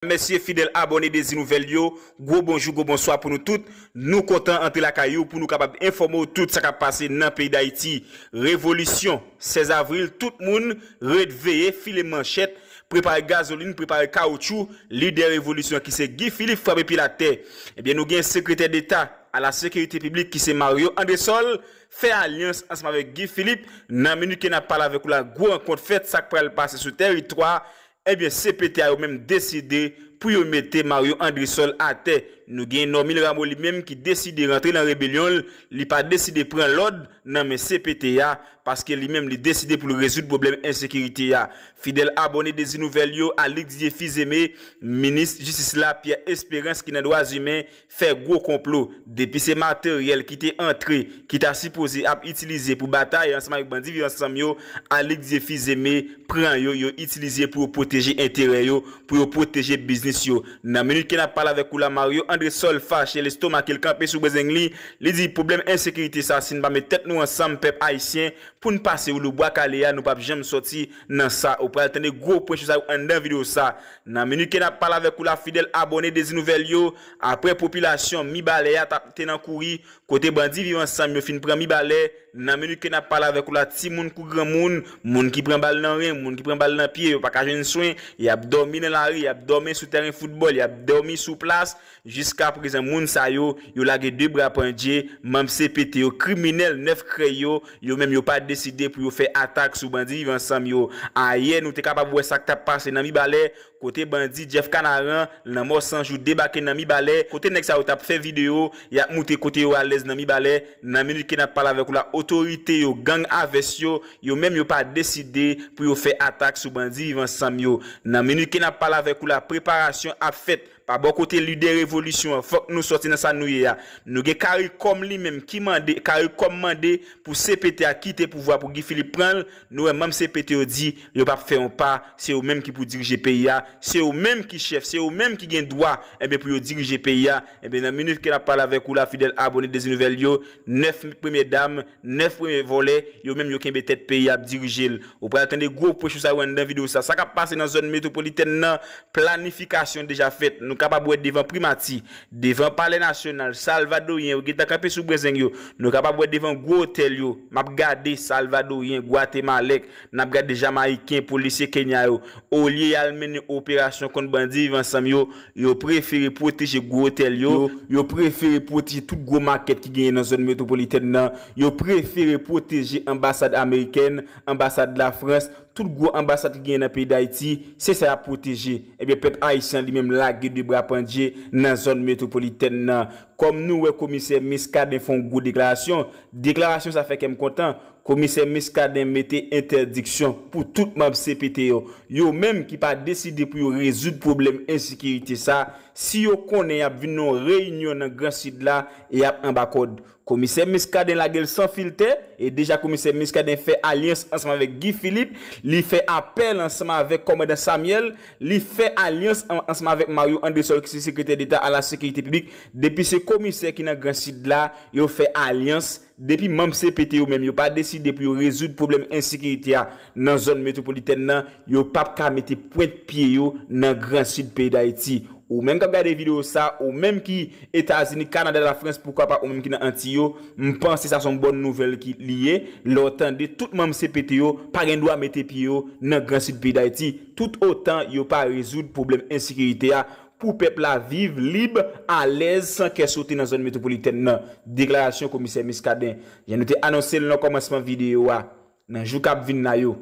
Mèsi fidèl abòne Dezi Nouvèl yo, gwo bonjou gwo bonswa pou nou tout, nou kontan antre lakay ou pou nou kapab enfòme w tout sa k ap pase nan peyi Dayiti. Revolisyon 16 avril tout moun ret veye, file manchèt, prepare gazolin, prepare kawoutchou, lidè revolisyon an ki se Guy Philippe frape pil atè. Ebyen nou gen sekretè deta a la sekirite piblik ki se Mario Andresol fè alyans ansanm avèk Guy Philippe, nan minit ke n ap pale avèk ou la gwo rankont fèt sa k pral pase sou tèritwa Ebyen CPT a yo menm deside pou yo mete Mario Andresol atè. Nou gen Normil Rameau li menm ki deside rantre nan rebelyon l, li pa deside pran lòd nan men CPT a, paske li menm li deside pou l rezoud pwoblèm ensekirite a. Fidèl abòne Dezi Nouvèl yo, Alix Dieufils Aimé, Minis Jistis la Pierre Esperance ki nan Dwazimen, fè gwo konplo depi se materyèl ki te antre ki ta sipoze ap itilize pou batay ansanm avèk bandi viv ansanm yo Alix Zephy Zeme pran yo yo itilize pou yo pwoteje enterè yo pou yo pwoteje biznis yo nan minit ke nap pale avèk ou la Mario Andresol fache l estomake l kanpe sou bezeng li li di pwoblèm ensekirite sa si n pa met tèt nou ansanm pèp ayisyen pou n pase woulou bwa kale a nou pap janm sòti nan sa ou pral tande gwo pwen sou sa yo anndan video sa Nan minit ke nap pale avèk ou la fidèl abòne Dezi Nouvèl yo, aprè popilasyon Mibalè ya tap te nan kouri, kote bandi Viv Ansanm yo fin pran Mibalè, nan minit ke nap pale avèk ou la timoun kou granmoun, moun ki pran bal nan ren, moun ki pran bal nan pye, yo paka jwenn swen, yap dòmi nan lari, yap dòmi sou tèren foutbòl, yap dòmi sou plas, Jiska prezan moun sa yo, yo lage 2 bra pandje, manb cpt yo kriminèl 9 krèy yo, yo menm yo pa deside pou yo fè atak sou bandi viv ansanm yo. Ayè nou te kapab wè sak tap pase nan Mibalè, kote bandi Jeff Kanaran, lanmò san jou debake nan Mibalè, kote nèg sa yo tap fè video, yap moutre kote yo alèz nan Mibalè, nan minit ke nap pale avèk ou la otorite yo gang a vès yo, yo menm yo pa deside pou yo fè atak sou bandi viv ansanm yo. Nan minit ke nap pale avèk ou la preparasyon ap fèt. Pa bò kote lidè revolisyon an, fòk nou sòti nan sa nou ye a. Nou gen Caricom li menm ki mande, Caricom mande pou cpt a kite pouvwa pou Guy Philippe pran l, nou wè manm cpt yo di yo pap fè yon pa, se yo menm ki pou dirije peyi a, se yo menm ki chèf, se yo menm ki gen dwa enben pou yo dirije peyi a, enben nan minit ke nap pale avèk ou la fidèl abone Dezi Nouvèl yo, 9 premyè dam 9 premye vòlè yo menm yo kenbe tèt peyi ap dirije l. Ou pral tande gwo pwen sou sa yo anndan video sa. Sa kap pase nan zòn metwopolitèn nan, planifikasyon deja fèt. Nou kapab wè devan primati, devan palè nasyonal, salvadoryen yo gentan kanpe sou brenzeng yo. Nou kapab wè devan gwo otèl yo. Map gade salvadoryen, gwatemalèk. Nap gade Jamayiken, polisye Kenya yo, olye yal mennen operasyon kont bandi Viv Ansanm yo, yo prefere pwoteje gwo otèl yo, yo prefere pwoteje tout gwo makèt ki genyen nan zòn metwopolitèn nan, yo prefere pwoteje anbasad amerikèn, anbasad Lafrans, tout gwo anbasad ki genyen nan peyi Dayiti, se sa yap pwoteje. Ebyen pèp Ayisyen an li menm lage 2 bra pandje nan zòn metwopolitèn nan. Kòm nou wè komisè Miskaden fon gwo deklarasyon, deklarasyon sa fè kèm kontan, Komisè Muscadin mete entèdiksyon pou tout manb cpt yo, yo menm ki pa deside pou yo rezoud pwoblèm ensikirite sa, si yo konnen yap vin nan yon reyinyon nan gran sid la e yap anba kòd. Komisè Muscadin lagel san filtè e deja komisè Muscadin fè alyans ansanm avèk Guy Philippe, li fè apèl ansanm avèk kòmandan Samuel, li fè alyans ansanm avèk Mario Andresol ki se sekretè deta a la sekirite piblik, depi se komisè ki nan gran sid la, yo fè alyans. Depi manm cpt yo menm yo pa deside pou yo rezoud pwoblèm ensekirite a nan zòn metwopolitèn nan, yo pap ka mete pwent pye yo nan gran sid peyi Dayiti. Ou menm kap gade videyo sa, ou menm ki Etazini, Kanada, Lafrans, poukwa pa ou menm ki nan Antiy yo, m panse sa son bòn nouvèl ki li ye, lè w tande tout manm cpt yo pa gen dwa mete pye yo nan gran sid peyi Dayiti tout otan yo pa rezoud pwoblèm ensekirite a pou pèp la viv lib, alèz, san kè sote nan zòn metwopolitèn nan, deklarasyon komisè Muscadin. Jan nou te anonse l nan kòmansman videyo a, nan jou k ap vin la yo,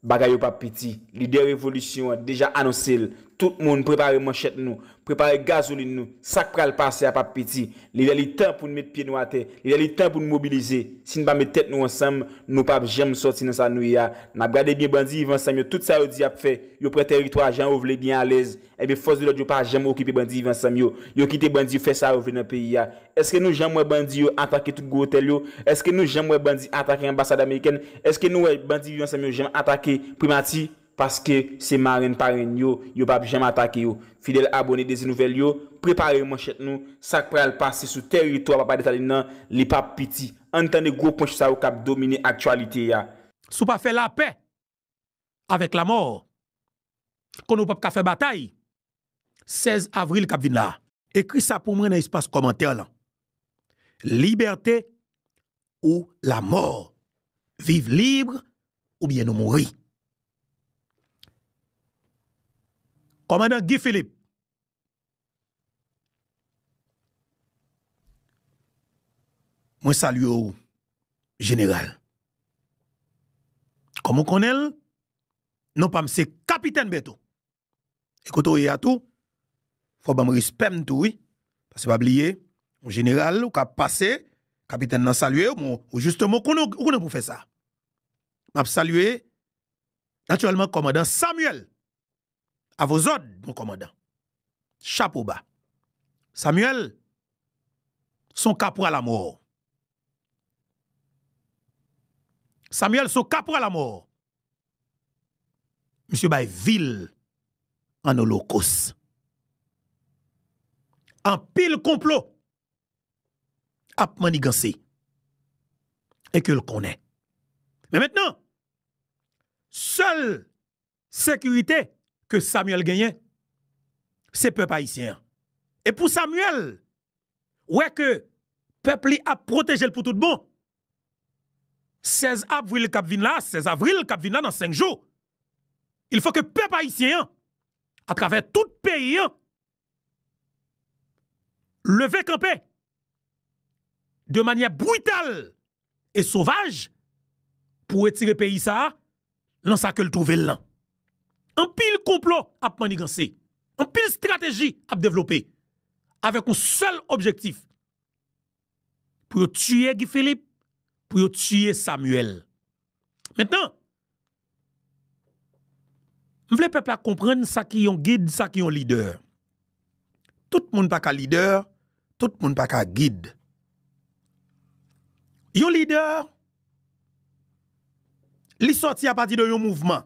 bagay yo p ap piti. Lidè revolisyon an deja anonse l, Tout moun prepare manchèt nou, prepare gazolin nou, sa k pral pase a p ap piti. Li lè li tan pou n met pye nou atè, li lè li tan pou n mobilize. Si n pa met tèt nou ansanm, nou p ap janm sòti nan sa nou ye a. N ap gade byen bandi viv ansanm yo tout sa yo di y ap fè, yo pran tèritwa jan yo vle byen alèz, Ebyen fòs de lòd yo pa janm okipe bandi viv ansanm yo, yo kite bandi yo fè sa yo vle nan peyi a. Eske nou janm wè bandi yo atake tout gwo otèl yo? Eske nou janm wè bandi atake anbasad amerikèn? Eske nou wè bandi viv ansanm yo janm atake primati? Paske se marenn parenn yo, yo pap janm atake yo. Fidèl abone Dezi Nouvèl yo, prepare manchèt nou, sak pral pase sou tèritwa papa Desalin nan li pap piti. Ann tande gwo ponch sa yo kap domine aktyalite a. Si w pa fè lapè, avèk lamò konnen w pap ka fè batay 16 avril kap vin la a. Ekri sa pou mwen nan espas kòmantè lan Libète ou lamò Viv lib oubyen nou mouri Kòmandan Guy Philippe Mwen salye w jeneral. Kòm ou konnen l, non pa m se Kapitèn Bèto. E kote w ye a tou, fò w ban m respè m tou wi. Pase pa bliye, yon jeneral ou ka pase, kapitèn nan salye w, ou jisteman konnen ou konnen pou fè sa. M ap salye natirèlman kòmandan Samyèl. A vos òd, mon kòmandan. Chapo ba. Samuel, s on kapwal amò. Samuel, s on kapwal amò. Misye bay vi l an olokos. Anpil konplo ap manniganse e ke l konnen. Men mentnan, sèl sekirite ke Samuel genyen se pèp ayisyen an e pou Samuel wè ke pèp li ap pwoteje l pou tout bon 16 avril kap vin la 16 avril kap vin la nan 5 jou il fò ke pèp ayisyen an atravè tout peyi an leve kanpe de manyè brital e sovaj pou retire peyi sa a nan sa ke l twouve l lan. Anpil konplo ap manniganse, anpil strateji ap devlope avèk yon sèl objektif. pou yo tiye Guy Philippe, pou yo tiye Samuel. Mentnan, m vle pèp la konprann sa ki yon gid, sa ki yon lidè. Tout moun pa ka lidè, tout moun pa ka gid. Yon lidè, li sòti apati de yon mouvman.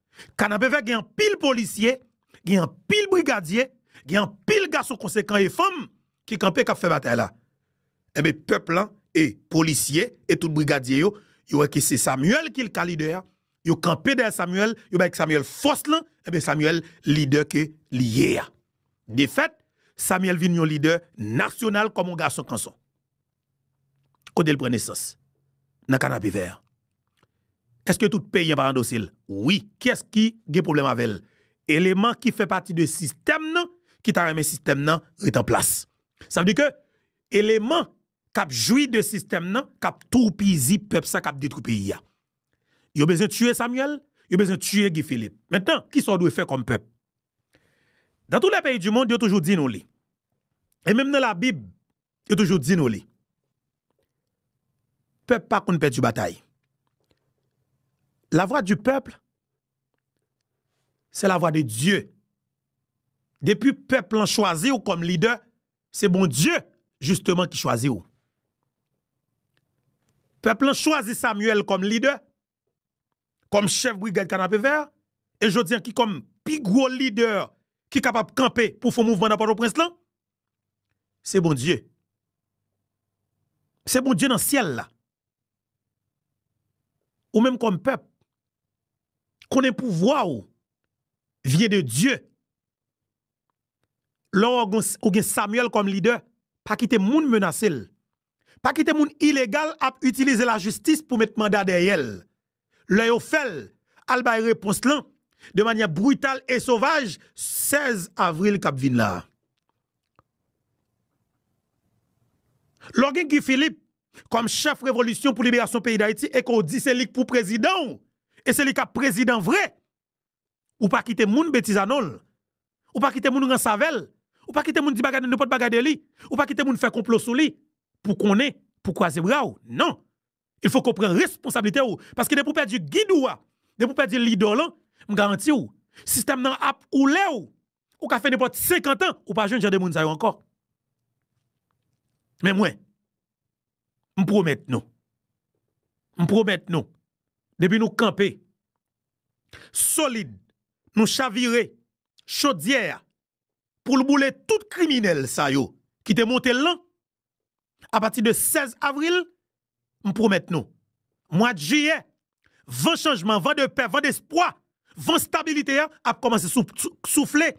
Kanapevè gen anpil polisye, gen anpil brigadye, gen anpil gason konsekan e fanm ki kanpe k ap fè batay la. Enben, pèp lan e polisye e tout brigadye yo, yo wè ke se Samuel ki ka lidè a, yo kanpe dèyè Samuel, yo bay Samuel fòs lan, enben Samuel lidè ke li ye a. Defèt, Samuel vin yon lidè nasyonal kòm yon gason kanson. Kote l pran nesans? Nan kanapevè. Eske tout peyen pa andose l? Wi. Kiyès ki gen pwoblèm avè l? Eleman ki fè pati de sistèm nan ki ta renmen sistèm nan ret an plas. Sa vle di ke eleman k ap jwi de sistèm nan, k ap toupizi pèp sa, k ap detwi peyi a. Yo bezwen tiye Samyèl, yo bezwen tiye Gi Filip. Mentnan, kisa w dwe fè kòm pèp? Dan tou lè peyi di mond, yo toujou di nou li. E menm nan labib, Yo toujou di nou li. Pèp pa konn pèdi batay. La vwa di pèp, se la vwa de Dye. Depi pèp lan chwazi ou kòm lidè, se bon Dye jisteman ki chwazi ou. Pèp lan chwazi Samuel kòm lidè. kòm chèf brigad kanapevè a, e jodi an ki kòm pi gwo lidè ki kapab kanpe pou fon mouvman nan Pòtoprens lan, se Bondye. Se Bondye nan syèl la. Ou menm kòm pèp, konnen pouvwa ou vyen de Dye. Lè ou gen Samuel kòm lidè, pa kite moun menase l. Pa kite moun ilegal ap itilize lajistis pou met manda dèyè l. Lè yo fè l, al bay repons lan de manyè brital e sovaj 16 avril k ap vin la a. Loge Guy Philippe kòm chèf revolisyon pou liberasyon peyi Dayiti e ke w di se li k pou prezidan w e se li k ap prezidan vre, Ou pa kite moun betiza non l. Ou pa kite moun ranse avè l. Ou pa kite moun di bagay nan nenpòt bagay de li. Ou pa kite moun fè konplo sou li. Pou konnen, pou kwaze bra w. Non! Il fòk ou pran responsablite w. Paske depi ou pèdi gid ou a, depi ou pèdi lidè w lan, m garanti w, sistèm nan ap oule w. Ou ka fè nenpòt senkantan, ou pa jwenn jan de moun sa yo ankò. Men mwen, m pwomèt nou, m pwomèt nou, depi nou kanpe, solid nou chavire chodyè a pou l boule tout kriminèl sa yo ki te monte l lan apati de 16 avril m pwomèt nou mwad jiyè van chanjman van de pè van despwa van stabilite a ap kòmanse soufle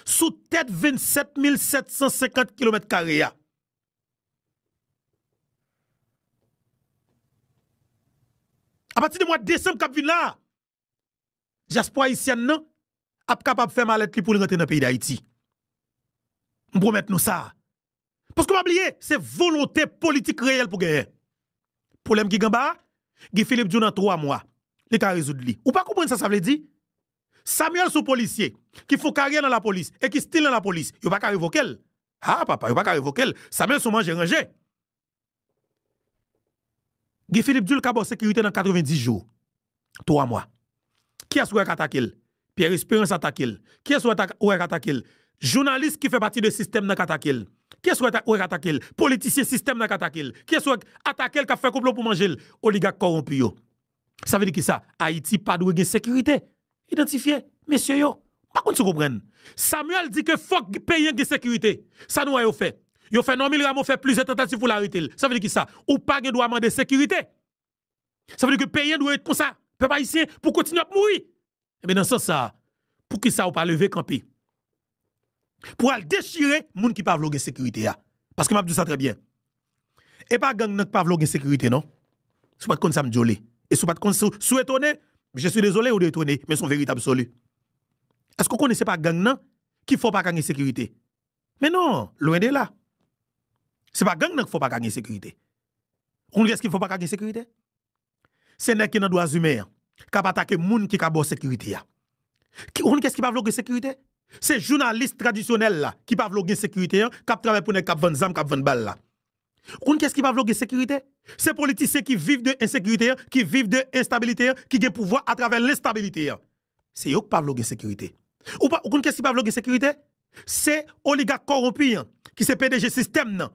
sou tèt 27 mil 750 kilomèt kare a. A pati de mwa desanm k ap vin la, dyaspora ayisyèn nan ap kapab fè malèt li pou l rantre nan peyi Dayiti. M pwomèt nou sa. Paske pa bliye, se volonte politik reyèl pou genyen. Pwoblèm ki gen anba a, Guy Philippe di w nan 3 mwa, li ka rezoud li. Ou pa konprann sa sa vle di? Samuel son polisye ki fon karyè nan lapolis e ki stil nan lapolis yo paka revokel haa papa yo paka revokel Samuel son manje ranje Guy Philippe dil ka baw sekirite nan 90 jou 3 mwa kiyès ou wè k atakel Pierre Esperance atakel kiyès ou wè k atakel jounalis ki fè pati de sistèm nan k atakel kiyès ou wè k atakel politisyen sistèm nan k atakel kiyès ou wè k atakel kap fè konplo pou manjel oligak kòwonpi yo. Sa vle di kisa? Ayiti pa dwe gen sekirite? Idantifye, mesye yo. M pa konn si w konprann. Samuel di ke fòk peyi an gen sekirite. Sa nou wè yo fè? Yo fè Normil Rameau fè plizyè tantativ pou l arete l. Sa vle di kisa? Ou pa gen dwa mande sekirite. Sa vle di ke peyi an dwe ret konsa. Pèp ayisyen pou kontinye ap mouri. Enben nan sans sa a, poukisa ou pa leve kanpe pou w al dechire moun ki pa vle w gen sekirite a? Paske m ap di w sa trè byen, e pa gang nan ki pa vle w gen sekirite non. Si w pa t konn sa m di w li, e si w pa t konn, si w etone, je suis désolé ou de etone, men s on verite absoli. Èske w konnen se pa gang nan ki fè w pa ka gen sekirite? Men non, lwen de la. Se pa gang nan ki fè w pa ka gen sekirite. Ou konnen kiyès ki fè w pa ka gen sekirite? se nèg ki nan dwa zimen an k ap atake moun ki ka ba w sekirite a. Ou konn kiyès ki pa vle w gen sekirite? Se jounalis tradisyonèl la ki pa vle w gen sekirite an, k ap travay pou nèg k ap vann zam, k ap vann bal la. Ou konn kiyès ki pa vle w gen sekirite? Se politisyen ki viv de ensekirite an, ki viv de enstabilite an, ki gen pouvwa atravè lenstabilite an. Se yo k pa vle w gen sekirite. Ou pa ou konn kes ki pa vle w gen sekirite? Se oligak kowonpi an ki se pdg sistèm nan,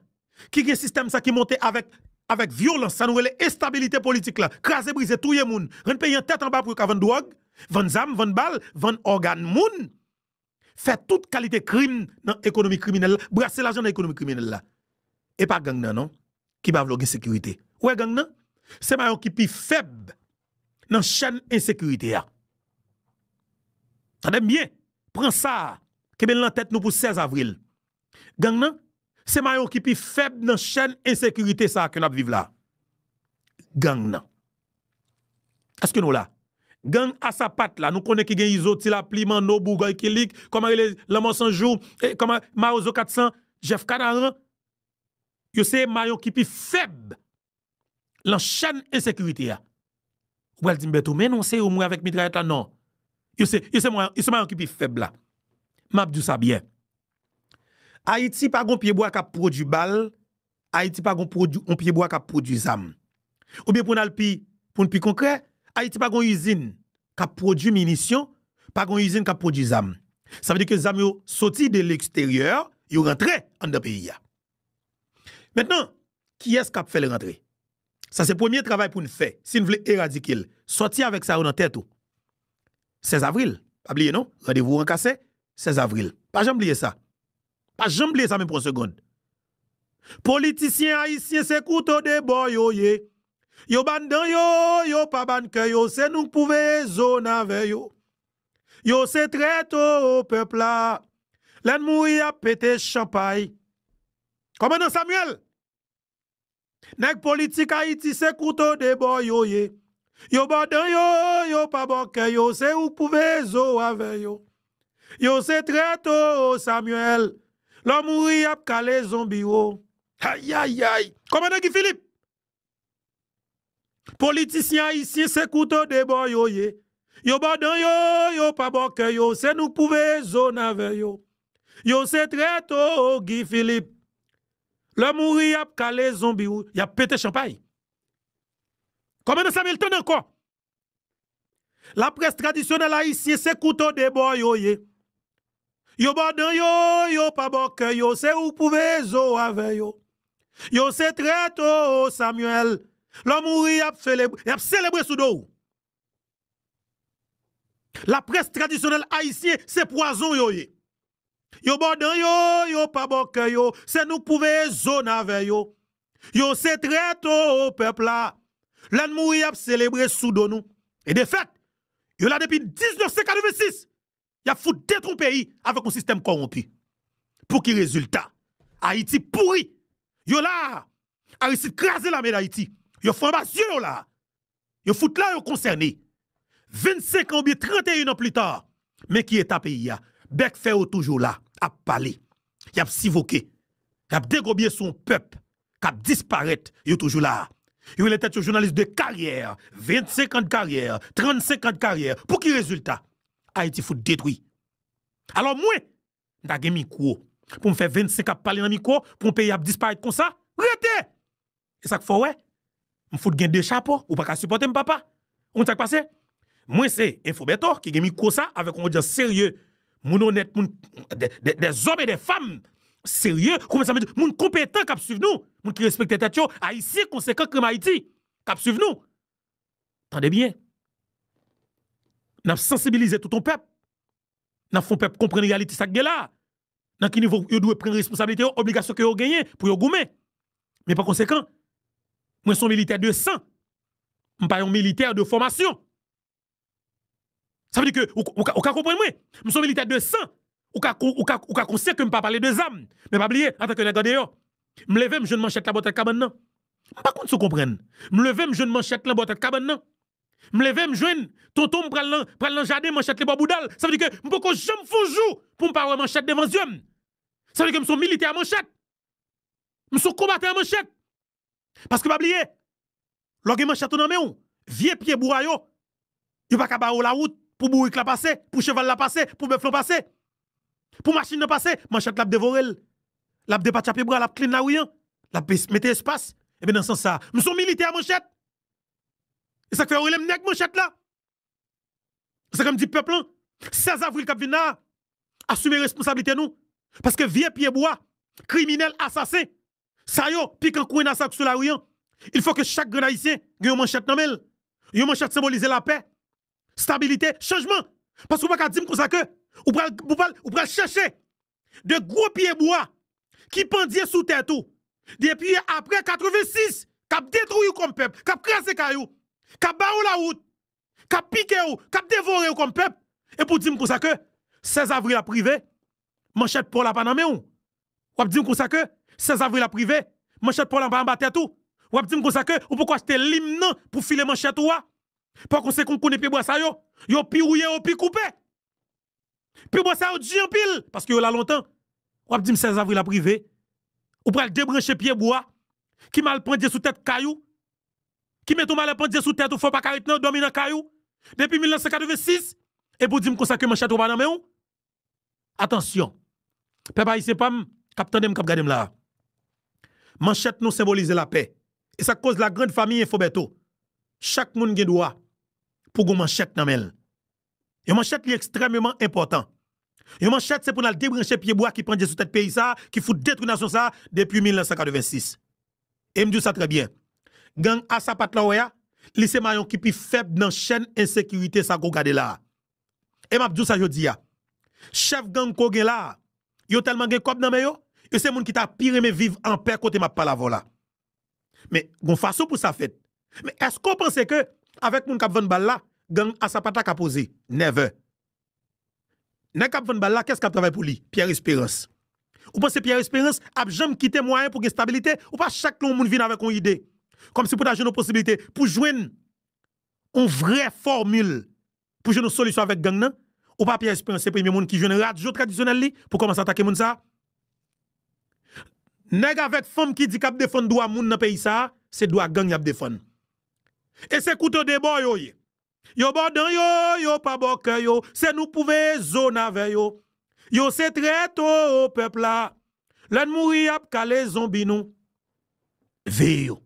ki gen sistèm sa ki monte avèk avèk vyolans sa nou rele enstabilite politik la, kraze brize, touye moun, rann peyi an tèt anba pou yo ka vann dwòg, vann zam, vann bal, vann ògan moun. fè tout kalite krim nan ekonomi kriminèl la, brase lajan nan ekonomi kriminèl la. E pa gang nan non, ki pa vle w gen sekirite. Ou wè gang nan? Se mayon ki pi fèb nan chèn ensekirite a. Tande m byen, pran sa a, kenbe l nan tèt nou pou 16 avril. Gang nan, se mayon ki pi fèb nan chèn ensekirite sa ke n ap viv la. Gang nan. Èske nou la? Gang a sapat la, nou konnen ki gen Izo, Ti Lapli, Manno, Bougòy, Kilik, kòman rele, Lanmò San Jou, e kòman, Mawozo 400, Jèf Kanaran, yo se mayon ki pi fèb lan chèn ensekirite a. Ou pral di m Bertho, men non se yo m wè avèk mitrayèt la, non. Yo se, yo se mwen, yo se mayon ki pi fèb la. M ap di w sa byen. Ayiti pa gon pyebwa k ap pwodui bal, Ayiti pa gon pwodui, yon pyebwa k ap pwodui zam. Oubyen pou n al pi, pou n pi konkrè, Ayiti pa gon izin k ap pwodui minisyon, pa gon izin k ap pwodui zam. Sa vle di ke zam yo soti de leksteryè, yo rantre anndan peyi a. Mentnan, kiyès k ap fè l rantre? Sa se premye travay pou n fè si n vle eradike l. Sòti avèk sa yo nan tèt ou. 16 avril, pa bliye non, randevou an ka se 16 avril. Pa janm bliye sa. Pa janm bliye sa menm pou yon segond. Politisyen ayisyen se kouto 2 bò yo ye. Yo ba n dan yo, yo pa ba n kè yo. Se nou k pou veye zo n avè yo. Yo se trèt oo pèp la lè n mouri yap pete chanpay kòmandan Samuel nèg politik ayiti se kouto de bò yo ye yo bò dan yo yo pa bò kè yo se ou k pou veye zo w avè yo yo se trèt oo Samuel lè w mouri yap kale zonbi w oo ayayayy kòmandan Guy Philippe Politisyen ayisyen se kouto de bò yo ye. Yo bò dan yo, yo pa bò kè yo, se nou k pou veye zòn avè yo. Yo se trèt o, Guy Philippe. Lè w mouri y ap kale zonbi w, y ap pete chanpay. Kòmandan Samuel tande ankò! Laprès tradisyonèl ayisyen se kouto de bò yo ye. Yo bò dan yo, yo pa bò kè yo, se ou pou veye zo avè yo. Yo se trèt oo Samuel, lè w mouri y ap selebre, y ap selebre sou do w. Laprès tradisyonèl ayisyen se pwazon yo ye. Yo bo dan yo, yo pa bo kè yo, se nou k pou veye zone avè yo. Yo se trèt oo pèp la. Lè n mouri y ap selebre sou do nou. E de fèt, yo la depi 1986. Y ap fout detwon peyi avèk yon sistèm kowonpi. Pou ki rezilta? Ayiti pouri. Yo la a, Aristide kraze lame Dayiti. Yo fè anba zye yo la a. Yo fout la yo konsène. 25 an oubyen 31 an plus tard, men ki eta peyi a. Bèk fè yo toujou la, ap pale. Y ap sivoke. Y ap degobye sou yon pèp k ap disparèt. Yo toujou la. Yo rele tèt yo jounalis de karyè. 25 an de karyè, 35 an de karyè. Pou ki rezilta? Ayiti fout detwi. Alò mwen, m ta gen mikwo pou m fè 25 ap pale nan mikwo pou yon peyi ap disparèt konsa rete e sak fè w wè m fout gen 2 chapo ou paka sipòte m papa ou konn sak pase mwen se enfo Bertho ki gen mikwo sa avèk yon odyans serye moun onèt moun de zòm e de fanm serye ou konprann sa m vle di moun konpetan kap swiv nou moun ki respekte tèt yo ayisyen konsekan krèm ayiti kap swiv nou tande byen nap sansibilize tout yon pèp N ap fè pèp konprann reyalite sa k gen la a, nan ki nivo yo dwe pran responsablite yo, obligasyon ke yo genyen pou yo goumen. Men pa konsekan, mwen se yon militè de san, m pa yon militè de fòmasyon. Sa vle di ke ou ka konprann mwen, m se yon militè de san, ou ka konsyan ke m pa pale de zam. Men pa bliye, antanke nèg andeyò, m leve m jwenn manchèt la bò tèt kabann nan. M pa konn si w konprann. M leve m jwenn manchèt lan bò tèt kabann nan. M leve m jwenn Tonton m pral nan pral nan jaden manchèt li bò bouda l sa vle di ke m poko janm fon jou pou m pa wè manchèt devan zye m sa vle di ke m son militè a manchèt m son konbatan a manchèt paske pa bliye lè w gen manchèt ou nan men w vye pye bwa yo yo pa ka bare w lawout pou bourik la pase pou cheval la pase pou bèf lan pase pou machin nan pase manchèt la ap devore l l ap depatcha pye bwa l ap klin lari an l ap mete espas ebyen nan sans sa m son militè a manchèt E sak fè yo relem nèg manchèt la? E sak fèm di pèp lan 16 avril kap vin la a asime responsablite nou paske vye pye bwa kriminèl asasen sa yo pikan kwenna sa yo ki sou lari an il fò ke chak grenn ayisyen gen yon manchèt nan menl yon manchèt senbolize lapè stabilite chanjman paske ou paka dim konsa ke ou pral ou pral chèche de gwo pye bwa ki pandye sou tèt ou depi apre 86, k ap detwi ou kòm pèp, k ap kraze kay ou, k ap bare w lawout, k ap pike ou, k ap devore ou kòm pèp, epi w di m konsa ke 16 avril ap rive, manchèt paw la pa nan men ou, w ap di m konsa ke 16 avril ap rive, manchèt paw la pa anba tèt ou, w ap di m konsa ke ou poko achte lim nan pou file manchèt ou a, pakonsekan w konnen pye bwa sa yo, yo pi wouye yo pi koupe. Pi bon sa yo di anpil, paske yo la lontan. W ap di m 16 avril ap rive, ou pral debranche pyebwa ki mal pandye sou tèt kay ou, ki mete yon malè pandye sou tèt ou fè w pa ka ret dòmi nan kay ou depi 1986, epi w di m konsa ke manchèt ou pa nan men w? Atansyon, pèp ayisyen pa m k ap tande m, k ap gade m la a. Manchèt nou senbolize lapè. E sa k koz la grand famille Info Bertho, chak moun gen dwa pou gen yon manchèt nan men l. Yon manchèt li ekstrèmeman enpòtan. Yon manchèt se pou n al debranche pye bwa ki pandje sou tèt peyi sa a, ki fout detwi nasyon sa a depi 1986. E m di w sa trè byen. Gang a sapat la w wè a, li se mayon ki pi fèb nan chèn ensekirite sa ke w gade la a. E m ap di w sa jodi a. Chèf gang ke w gen la a, yo tèlman gen kòb nan men yo, yo se moun ki ta pi renmen viv anpè kote m ap pale avè w la. Men, gon fason pou sa fèt. Men, èske ou panse ke avèk moun k ap vann bal la, gang a sapat la ka poze? Never! Nèg k ap vann bal la, kiyès k ap travay pou li? Pierre Espérance. Ou panse Pierre Espérance ap janm kite mwayen pou gen stabilite? Ou pa chak lè yon moun vin avèk yon ide, kòmsi pou ta jwenn yon posibilite pou jwenn yon vrè fòmil Pou jwenn yon solisyon avèk gang nan, ou pa Pierre Esperance se premye moun ki jwenn radyo tradisyonèl li pou kòmanse atake moun sa a. Nèg avèk fanm ki di k ap defann dwa moun nan peyi sa a, se dwa gang y ap defann. E se kouto de bò yo ye. Yo bò dan yo, yo pa bò kè yo, se nou k pou veye zo navè yo. Yo se trèt oo pèp la. Lè n mouri y ap kale zonbi nou. Veye yo.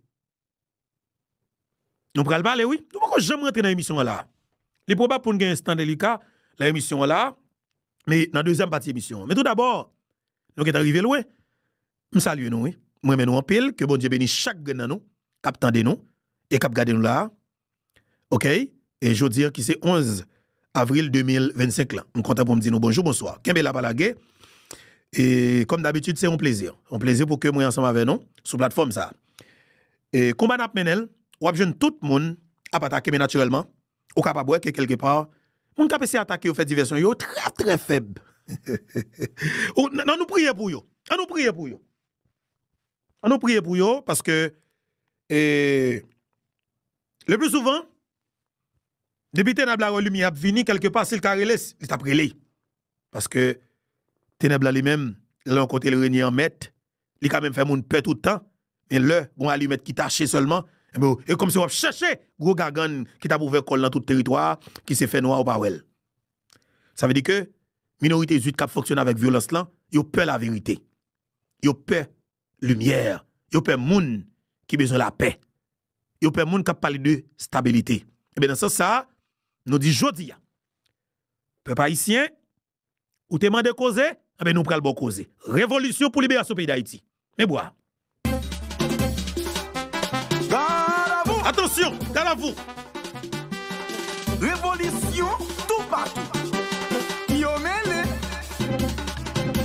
Nou pral pale wi. Nou poko janm rantre nan emisyon an la. Li pwobab pou n gen Instant Delica nan emisyon an la, men nan dezyèm pati emisyon an. Men tou dabò, nou gentan rive lwen. M salye nou wi. M renmen nou anpil. Ke Bondye beni chak grenn nan nou k ap tande nou e k ap gade nou la a. ok e jodi an ki se 11 avril 2025 lan m kontan pou m di nou bonjou bonswa kenbe la pa lage e kòm dabitid se yon plezi yon plezi pou ke mwen ansanm avè nou sou platfòm sa e konba n ap mennen l w ap jwenn tout moun ap atake men natirèlman ou kapab wè ke kèlke pa moun k ap eseye atake yo fè divèsyon yo trè trè fèb ou nan nou priye pou yo an nou priye pou yo. An nou priye pou yo paske le pli souvan depi tenèb la wè limyè ap vini kelke pa sil ka rele li tap rele paske tenèb la li menm lè l yon kote l renye an mèt li ka menm fè moun pè tout tan men lè gon alimèt ki tache sèlman ebyen w e kòmsi wap chèche gwo gagann ki tap ouvè kòl nan tout teritwa ki se fè nwa ou pa wèl sa vle di ke minorite zwit kap fonksyone avèk vyolans lan yo pè laverite. yo pè limyè, yo pè moun ki bezwen lapè, yo pè moun k ap pale de stabilite. Ebyen nan sans sa a, nou di jodi a, pèp ayisyen, ou te mande koze, ebyen nou pral ba w koze. Revolisyon pou liberasyon peyi Dayiti. Men bwa a. Atansyon! Galavou! Revolisyon toupatou Ki yo mele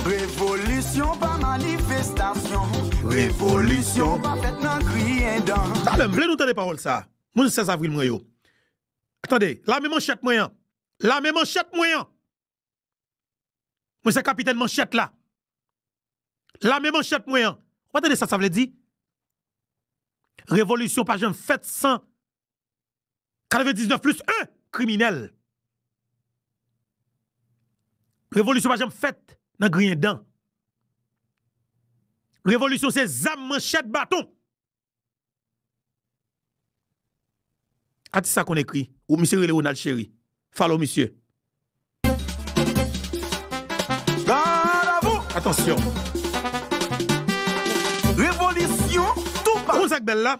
Revolisyon pa manifestasyon Revolisyon pa fèt nan griyen dan Talè m vle nou tande pawòl sa a Moun 16 avril mwen yo Tande Lame manchèt mwen an Lame manchèt mwen an Mwen se kapitèn manchèt la. Lame manchèt mwen an. Ou pa tande sa sa vle di? Revolisyon pa janm fèt san 99 plis 1 kriminèl. Revolisyon pa janm fèt nan griyen dan. Revolisyon se zam, manchèt, baton. Atis sa konn ekri. Ou misye rele Ronald Chéry. Follow misye. Atansyon. Revolisyon tou pa. Ou konn sak bèl la?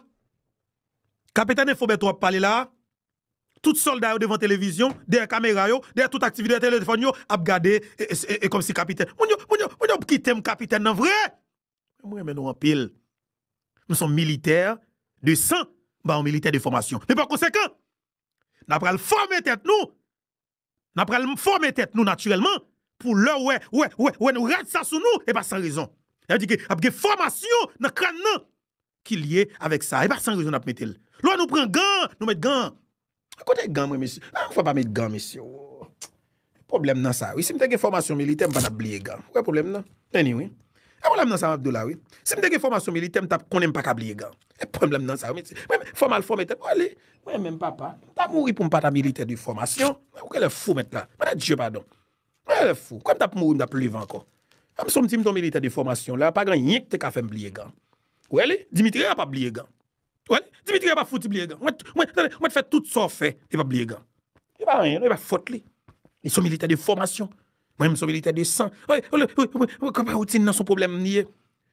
Kapitèn Enfo Bèto ap pale la a. Tout sòlda yo devan televizyon, dèyè kamera yo, dèyè tout aktivite yo, telefòn yo ap gade e kòmsi kapitèn. Moun yo, moun yo, moun yo p kitem kapitèn nan vre! M renmen nou anpil. M son militè de san m pa yon militè de fòmasyon. Men pa konsekan, n a pral fòme tèt nou, n a pral fòme tèt nou natirèlman pou lè w wè, wè, wè, wè nou rad sa sou nou e pa san rezon. Sa vle di ke ap gen fòmasyon nan kràn nan ki lye avèk sa. E pa san rezon n ap mete l. Lò nou pran gan, nou met gan. Kote gan mwen mesye? An fwa pa met gan mesye o. Problem nan sa wi. Si m te gen fòmasyon militè m pa tap bliye gan. Ou wè problem nan? Anyway. E problem nan sa map di w la wi. Si m te gen fòmasyon militè m tap konnen m pa ka bliye gan. E problem nan sa wi mesye. Mwen menm fò mal fòme tèt mwen ale. Mwen menm papa. M ta mouri pou m pa ta militè de fòmasyon. Mwen wè lè fou mèt la. Mwen ta Dieu padon. Mwen wè lè fou. Kòm m tap mouri m tap leve ankò. An sou m ti m ton militè de fòmasyon la pa gen anyen ki te ka fè m bliye gan. Ou wè li? Dimitri a pap bliye gan. Wè, Dimitri a pa fouti bliye gang. Mwen, mwen, tande, mwen t fè tout sa w fè, li pap bliye gang. Li pa anyen non, e pa fòt li. Li son militè de fòmasyon. Mwen menm son militè de san. Wè, wè, wè, wè konpa wotin nan son pwoblèm li ye.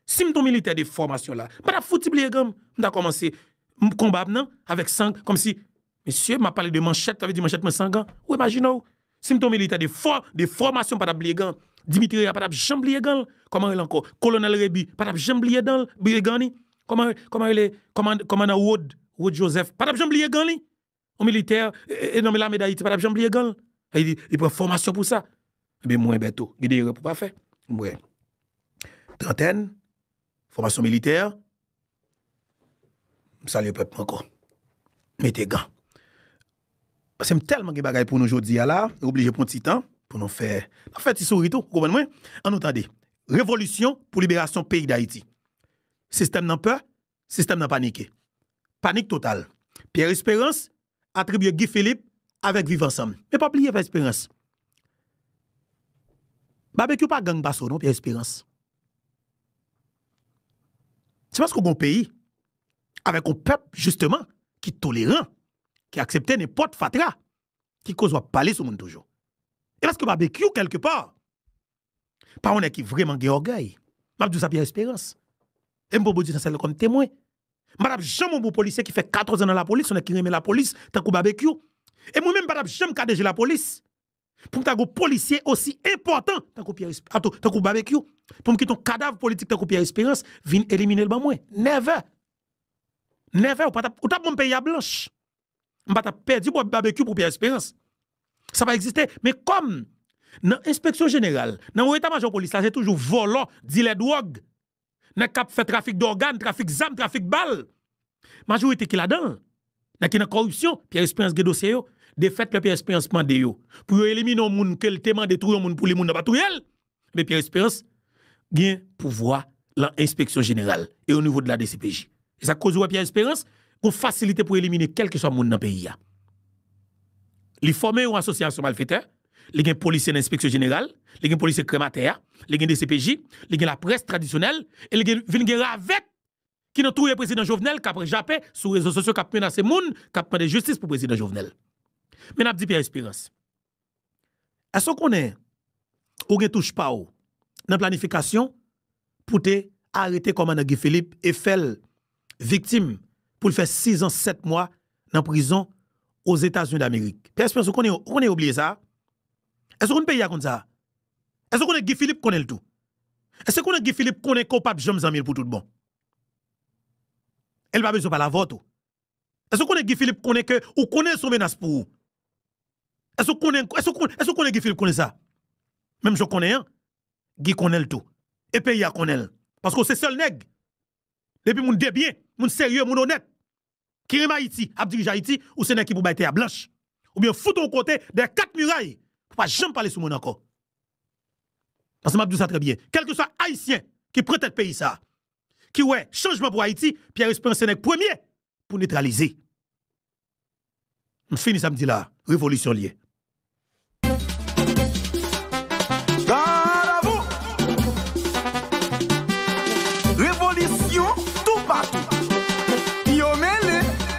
Si m t on militè de fòmasyon la, m pa tap fouti bliye gang. M ta kòmanse konba m nan avèk sang kòmsi Mesye, m ap pale de manchèt, sa vle di manchèt mwen san gan. Ou imajine w, si m te yon militè de fò, de fòmasyon m pa t ap bliye gan. Dimitri Reya pa t ap janm bliye gan l. Kòman rele ankò? Kolonèl Rebu pa t ap janm bliye dan l, bliye gan li. Kòman, kòman rele kòmand, kòmandan Rod, Rod Joseph pa t ap janm bliye gan li. Yon militè, e nonm lame Dayiti pa t ap janm bliye gan l. Sa vle di, li pran fòmasyon pou sa. Enben mwen Bèto, gen de erè pou w pa fè. Mwen Trantèn, Fòmasyon militè, m salye pèp mwen ankò. Mete gan. Pase m tèlman gen bagay pou nou jodi a la, nou oblije pran ti tan pou nou fè, nan fè ti souri tou, ou konprann mwen? An nou tande. Revolisyon pou liberasyon peyi Dayiti. Sistèm nan pè, sistèm nan panike. Panik total. Pierre Esperance, atribye Guy Philippe avèk Viv ansanm. Men pa bliye Pyè Esperans. Babekyou pa gang pase w non Pyè Esperans. Se paske w gen yon peyi avèk yon pèp jisteman ki toleran, ki aksepte nenpòt fatra ki koz w ap pale sou moun toujou. E paske Babekyou kèlke pa Pa yon nèg ki vrèman gen ògèy. M ap di w sa Pierre Espérance. E m pran Bondye nan syèl la kòm temwen. M pa t ap janm yon bon polisye ki fè 14 an nan lapolis, yon nèg ki renmen lapolis tankou Babekyou. E mwen menm m pa t ap janm ka DG lapolis pou m ta gen yon polisye osi enpòtan tankou Pierre Espérance, ato tankou Babekyou, pou m kite yon kadav politik tankou Pierre Espérance vin elimine l ban mwen. Never! Never! Ou pa t ap, ou t ap ban m peyi a blanch. m pa t ap pèdi bwè babekyou pou Pierre Espérance. Sa pa egziste. Men kòm nan enspeksyon jeneral, nan wo eta majò polis la se toujou vòlò, dilè dwòg, nèg k ap fè trafik dògàn, trafik zam, trafik bal, majorite ki ladan l, nèg ki nan kòripsyon, Pierre Espérance gen dosye yo. Defèt lè Pierre Espérance mande yo pou yo elimine yon moun ke l te mande touye yon moun pou li, moun nan pa touye l. Me Pierre Esperance gen pouvwa lan enspeksyon jeneral e o nivo de la dcpj. E sa k koz ou wè Pierre Esperance gon fasilite pou elimine kèlkeswa moun nan peyi a. Li fòme yon asosyasyon malfetè, li gen polisye nan enspeksyon jeneral, li gen polisye krèm atè a, li gen dcpj, li gen laprès tradisyonèl e li gen vin gen ravèt ki nan touye prezidan Jovenel k ap jape sou rezo sosyo k ap menase moun k ap mande jistis pou prezidan Jovenel. Men n ap di Pierre Esperance. Èske w konnen ou gen touch pa w nan planifikasyon pou te arete kòmandan Guy Philippe e fè l viktim pou l fè 6 ans 7 mwa nan prizon Ozetazini Damerik? Pè Esperans ou konnen ou konnen yo bliye sa a? Èske w konn peyi a konn sa a? Èske w konnen Guy Philippe konnen l tou? Èske w konnen Guy Philippe konnen ke w pap janm zanmi l pou tout bon? E l pa bezwen pale avè w tou. Èske ou konnen Guy Philippe konnen ke ou konnen l se yon menas pou ou? Èske ou konnen, èske ou konnen, èske ou konnen Guy Philippe konnen sa? Menm jan w konnen an, Guy konnen l tou. E peyi a konnen l. Paske w se sèl nèg, depi moun debyen, moun serye, moun onèt, ki renmen Ayiti, ap dirije Ayiti, ou se nèg ki pou bay tè a blanch. Oubyen yo fout ou yon kote, dèyè kat miray, pou pa janm pale sou moun ankò. Paske m ap di w sa trè byen, kèlkeswa Ayisyen ki pran tèt peyi sa a, ki wè chanjman pou Ayiti, Pierre Esperance se nèg premye pou netralize. M fini sa m di la a, revolisyon l ye.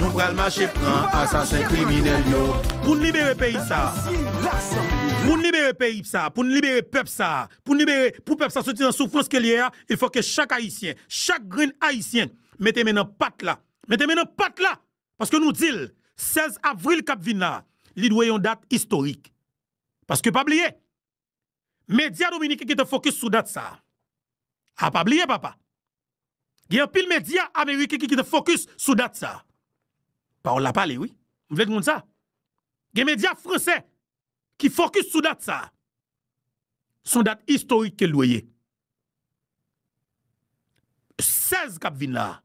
Nou pral mache pran asasen kriminèl yo. Pou n libere peyi sa a. Pou n libere peyi sa a, pou n libere pèp sa a, pou n libere, pou pèp sa a soti nan soufrans ke l ye a, il fò ke chak Ayisyen, chak grenn Ayisyen mete men nan pat la. Mete men nan pat la! Paske nou di l, 16 avril k ap vin la a, li dwe yon dat istorik. Paske pa bliye, Medya dominiken gentan fokis sou dat sa a. A pa bliye papa. Gen anpil medya ameriken ki gentan fokis sou dat sa a. Pawòl la pale wi. M vle moun sa. Gen medya franse ki fokis sou dat sa a. Son dat istorik ke l dwe ye. 16 k ap vin la a.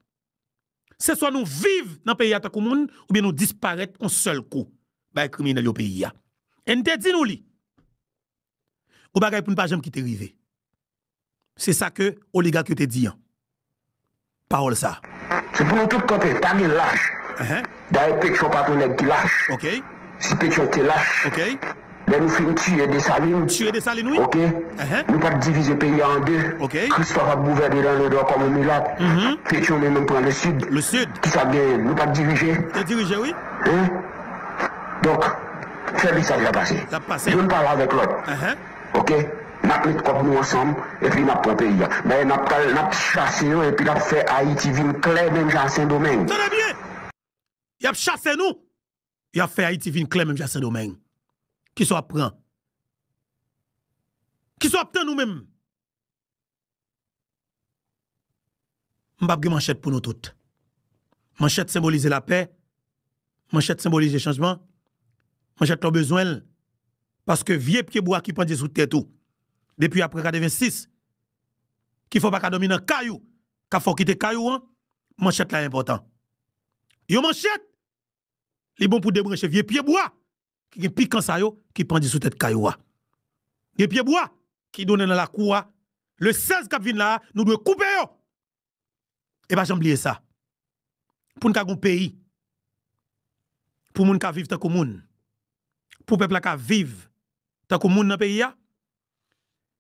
Se swa nou viv nan peyi a tankou moun oubyen nou disparèt yon sèl kou bay kriminèl yo peyi a. E n te di nou li. Yon bagay pou n pa janm kite rive. Se sa ke oligak yo te di an. Pawòl sa a. Se pou nou tout kanpe, pa gen lach. Dayè Petyon pa pou nèg ki lach. Si Petyon te lach. Lè nou fin tiye Desalin Tuer Dessalines wi. ok Uh-huh. nou pap divize peyi a an 2 Ok. Christophe ap gouvène nan le nò kòm on milat Uh-huh. Pétion li menm pran le sud Le sud. kisa k genyen nou pap dirije Te dirije wi. hein donk fè mesaj la pase Lap pase. youn pale avèk lòt Uh-huh. ok nap met kòb nou ansanm epi nap pran peyi a dayè nap pral nap chase yo epi nap fè Ayiti vin klè menm jan a Sendomeng. Tande byen! Yap chase nou Yo ap fè Ayiti vin klè menm jan ak Sendomeng. Ki sa w ap pran? Ki sa w ap tann ou menm? M pap gen manchèt pou nou tout. Manchèt senbolize lapè, manchèt senbolize chanjman, manchèt la w bezwen l paske vye pye bwa ki pandye sou tèt ou depi aprè 86 ki fè w pa ka dòmi nan kay ou, k ap fè w kite kay ou an, manchèt la enpòtan. Yon manchèt Li bon pou debranche vye pye bwa ki gen pikan sa yo ki pandye sou tèt kay ou a. Gen pye bwa ki donnen nan lakou a, le 16 k ap vin la a, nou dwe koupe yo! E pa janm bliye sa, pou n ka gen yon peyi, pou moun ka viv tankou moun, pou pèp la ka viv tankou moun nan peyi a,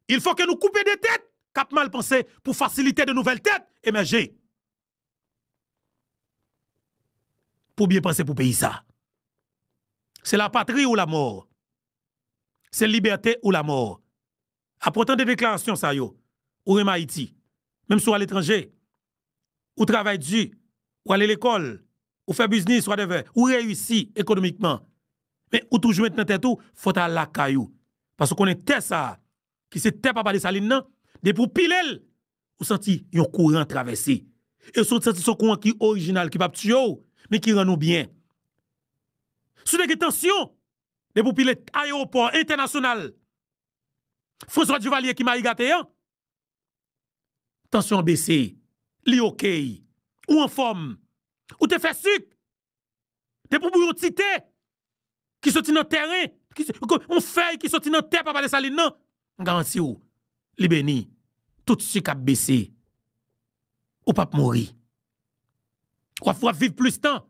il fò ke nou koupe de tèt k ap mal panse pou fasilite de nouvèl tèt emèje. Pou byen panse pou peyi sa. Se la patri ou la mò. Se libète ou la mò. Apre w tande deklarasyon sa yo, ou renmen Ayiti. Menm si w aletranje, ou travay di, ou ale lekòl, ou fè biznis, whatever, ou reyisi ekonomikman. Men ou toujou mete nan tèt ou fò w ta al lakay ou. Paske w konnen tè sa, ki se tè papa Desalin nan, depi ou pile l, ou santi yon kouran travèse. E si w santi se yon kouran ki orijinal, ki pap tiye w, men ki rann ou byen. Si w te gen tansyon, depi ou pile ayewopò entènasyonal François Duvalier ki mayi gate an, tansyon an bese, li okey, ou anfòm, ou te fè sik, Depi pou yon ti te ki soti nan tèren, yon fèy ki soti nan tè papa Desalin nan, m garanti ou li beni. Tout sik ap bese. Ou pap mouri. Ou ap viv plis tan.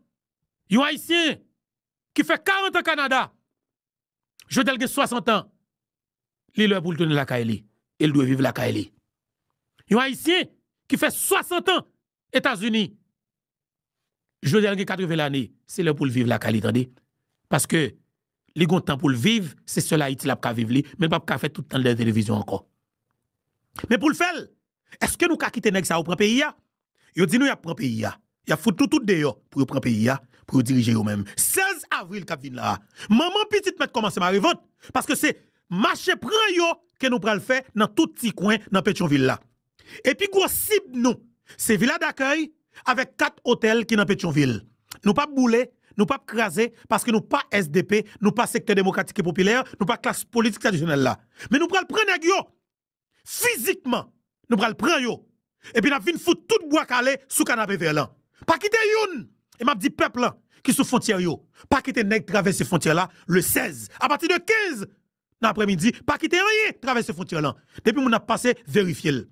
Yon Ayisyen ki fè 40 an Kanada, jodi a l gen 60 an, li lè pou l tounen lakay li e l dwe viv lakay li. Yon Ayisyen ki fè 60 an Etazini. Jodha gen 80 lane se lè poul viv lakay li tande paske li gon tan poul viv se sèl ayiti lap ka viv li men li pap ka fè tout tanl dèyè televizyon ankò men poul fèl eske nou ka kite nèg sa yo pran peyi a yo di nou yap pran peyi a yap fout nou tout deyò pou yo pran peyi a pou yo dirije yo menm 16 avril kap vin la manman pitit mèt kòmanse mare vant paske se mache pran yo ke nou pral fè nan tout ti kwen nan petyonvil la e pi gwo sib nou se Vila Dakèy avèk 4 otèl ki nan Petyonvil. Nou pap boule, nou pap kraze paske nou pa sdp, nou pa Sektè Demokratik e Popilè, nou pa klas politik tradisyonèl la. Men nou pral pran nèg yo! Fizikman! Nou pral pran yo! Epi n ap vin fout tout Bwa Kale sou Kanapevè lan. Pa kite youn! E m ap di pèp lan ki sou fwontyè yo, pa kite nèg travèse fwontyè la le 16. Apati de 15, nan aprèmidi pa kite anyen travèse fwontyè lan depi moun ap pase verifye l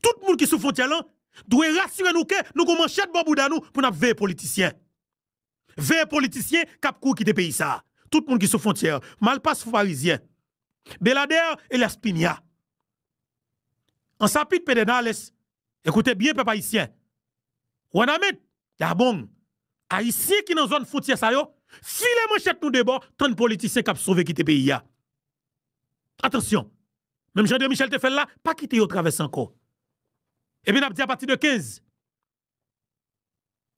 tout moun ki sou fwontyè lan dwe rasire nou ke nou gon manchèt bò bouda nou pou n ap veye politisyen veye politisyen k ap kouri kite peyi sa tout moun ki sou fwontyè malpas foufarizyen beladè elyas pinia ansapit pedènales Ekoute byen pèp ayisyen, Wanament, Gabong, ayisyen ki nan zòn fwontyè sa yo, file manchèt nou debò tann politisyen k ap sove kite peyi a. Atansyon, menm jan André Michel te fè l la, pa kite yo travèse ankò. Epi n ap di apati de 15,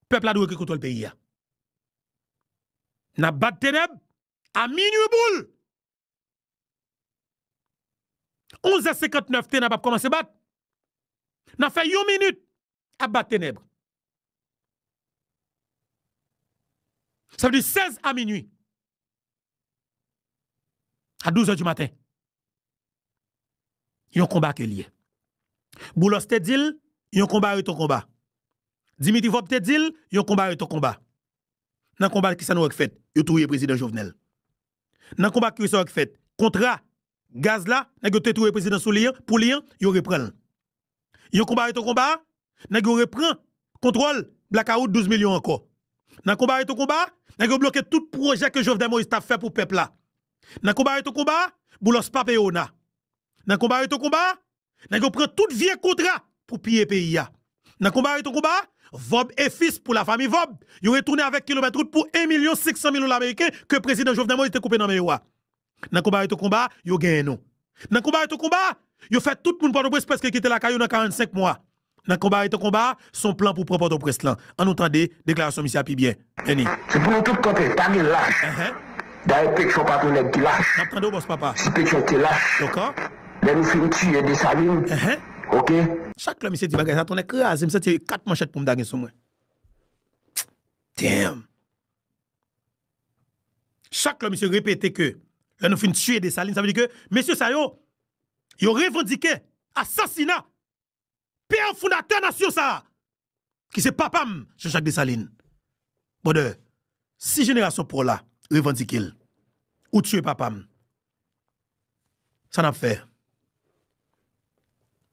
pèp la dwe gen kontwòl peyi a. N ap bat tenèb a minwi boule! 11 è 59 tenèb ap kòmanse bat. Nan fè yon minit ap bat tenèb. Sa vle di 16 a minui. A 12 è di maten. Yon konba ke liye. Boulos te dil, yon konba re ton konba. Dimitri Vop te dil, yon konba re ton konba. Nan konba ki sa nou wè k fèt? Yo touye prezidan Jovenel. Nan konba ke sa yo k fèt, kontra gaz la nèg yo te touye prezidan sou li an, pou li an, yo repran l. Yon konba reto konba, nèg yo repran kontwòl blakawout 12 milyon ankò. Nan konba reto konba, nèg yo bloke tout pwojè ke Jovenel Moïse tap fè pou pèp la. Nan konba reto konba, Boulos pa peye ona. Nan konba reto konba, Nèg yo pran tout vye kontra pou piye peyi a. Nan konba reton konba, Vob e fis pou la fami Vob, yo retounen avèk kilomèt rout pou 1 milyon 500 mil dola meriken ke prezidan Jovenel Moïse te koupe nan men yo a. Nan konba reton konba, yo genyen nou. Nan konba reton konba, yo fè tout moun Pòtoprens prèske kite lakay yo nan 45 mwa. nan konba reto konba a, se yon plan pou pran Pòtoprens lan. An nou tande deklarasyon misye a pi byen. Any. Se pou nou tout kanpe, pa gen lach. Dayè Petyon pa tou nèg ki lach. N ap tande w bòs papa. Si Petyon te lach. Doka. Lè nou fin tiye Desalin. Ok. Chak lè misye di bagay sa, tonnè kraze m, m santi se 4 manchèt pou m ta gen sou mwen. Damn! Chak lè misye repete ke lè nou fin tiye Desalin, sa vle di ke mesye sa yo, yo revandike asasina Pè fondatè nasyon sa a, ki se papa m, Jean Jacques Dessalines. Brother, si jenerasyon pa w la revandike l, ou tiye papa m, sa n ap fè?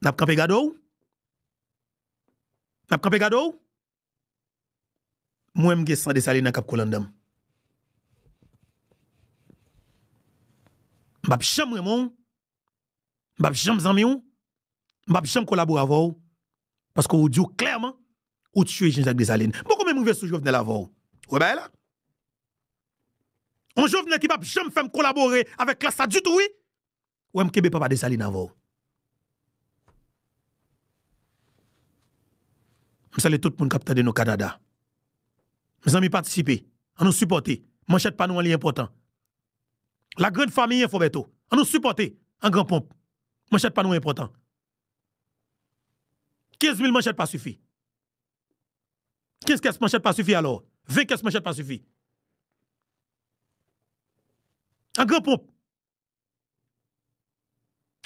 N ap kanpe gade w? N ap kanpe gade w? M wè m gen san Dessalina kap koule anndan m. M pap janm renmen w, m pap janm zanmi w, m pap janm kolabore avè w paske ou di w klèman ou tiye Jean Jacques Dessalines. M poko menm rive sou Jovenel avè w. Ou wè bagay la? Yon Jovenel ki pap janm fè m kolabore avèk klas la ditou wi. Ou wèm kenbe papa Dessalines avèw. M salye tout moun kap tande nou Canada. Mezanmi patisipe, an nou sipòte, manchèt pa nou an li enpòtan. La grande famille Info Bertho, an nou sipòte an gran ponp, manchèt pa nou enpòtan. 15 mil manchèt pa sifi. 15 kès manchèt pa sifi alò, 20 kès manchèt pa sifi. An gran ponp.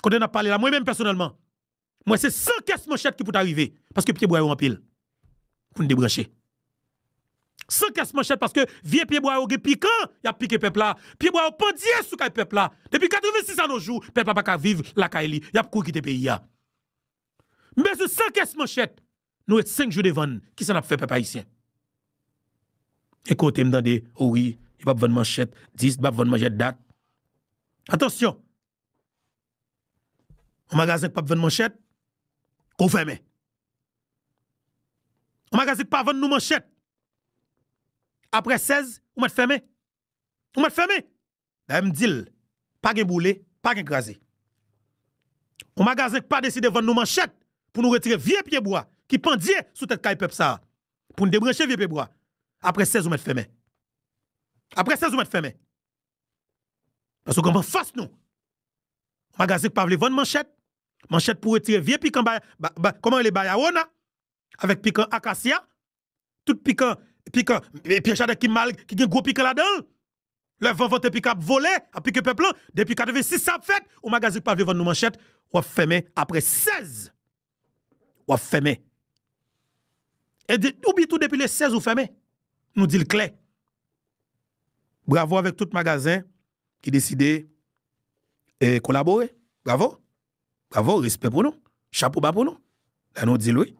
Kote nap pale la mwen menm pèsonèlman m wè se san kès manchèt ki pou ta rive paske pye bwa yo anpil pou n debranche san kès manchèt paske vye pye bwa yo gen pikan y ap pike pèp la pye bwa yo pandye sou kay pèp la depi 86 anojou pèp la pa ka viv lakay li y ap kouri kite peyi a m bezwen san kès manchèt Nou ret 5 jou devan kisa nap fè pèp ayisyen. Gen kote m tande o wi yo pap vann manchèt 10 yo pap vann manchèt dat atansyon yon magazen k pap vann manchèt kou fèmen yon magazen k pa vann nou manchèt aprè 16 ou mèt fèmen ou mèt fèmen Dayè m di l, pa gen boule, pa gen kraze. On magazen k pa deside vann nou manchèt pou nou retire vye pye bwa ki pandye sou tèt kay pèp sa a, pou n debranche vye pye bwa, aprè 16 ou mèt fèmen. Aprè 16 ou mèt fèmen. Paske kòm anfas nou, on magazen k pa vle vann manchèt, manchèt pou retire vye pikan, kòman rele bayawona, avèk pikan akasya, Tout pikan pikan e pyè chadèk ki mal ki gen gwo pikan ladanl lè van vante pikan ap vole ap pike pèp lan depi 86 sa ap fèt yon magazen ki pa vle vann nou manchèt wap fèmen aprè 16 wap fèmen ou byen tou depi le 16 ou fèmen nou dil klè bravo avèk tout magazen ki deside kolabore bravo. Bravo respè pou nou chapo ba pou nou lè nou dil wi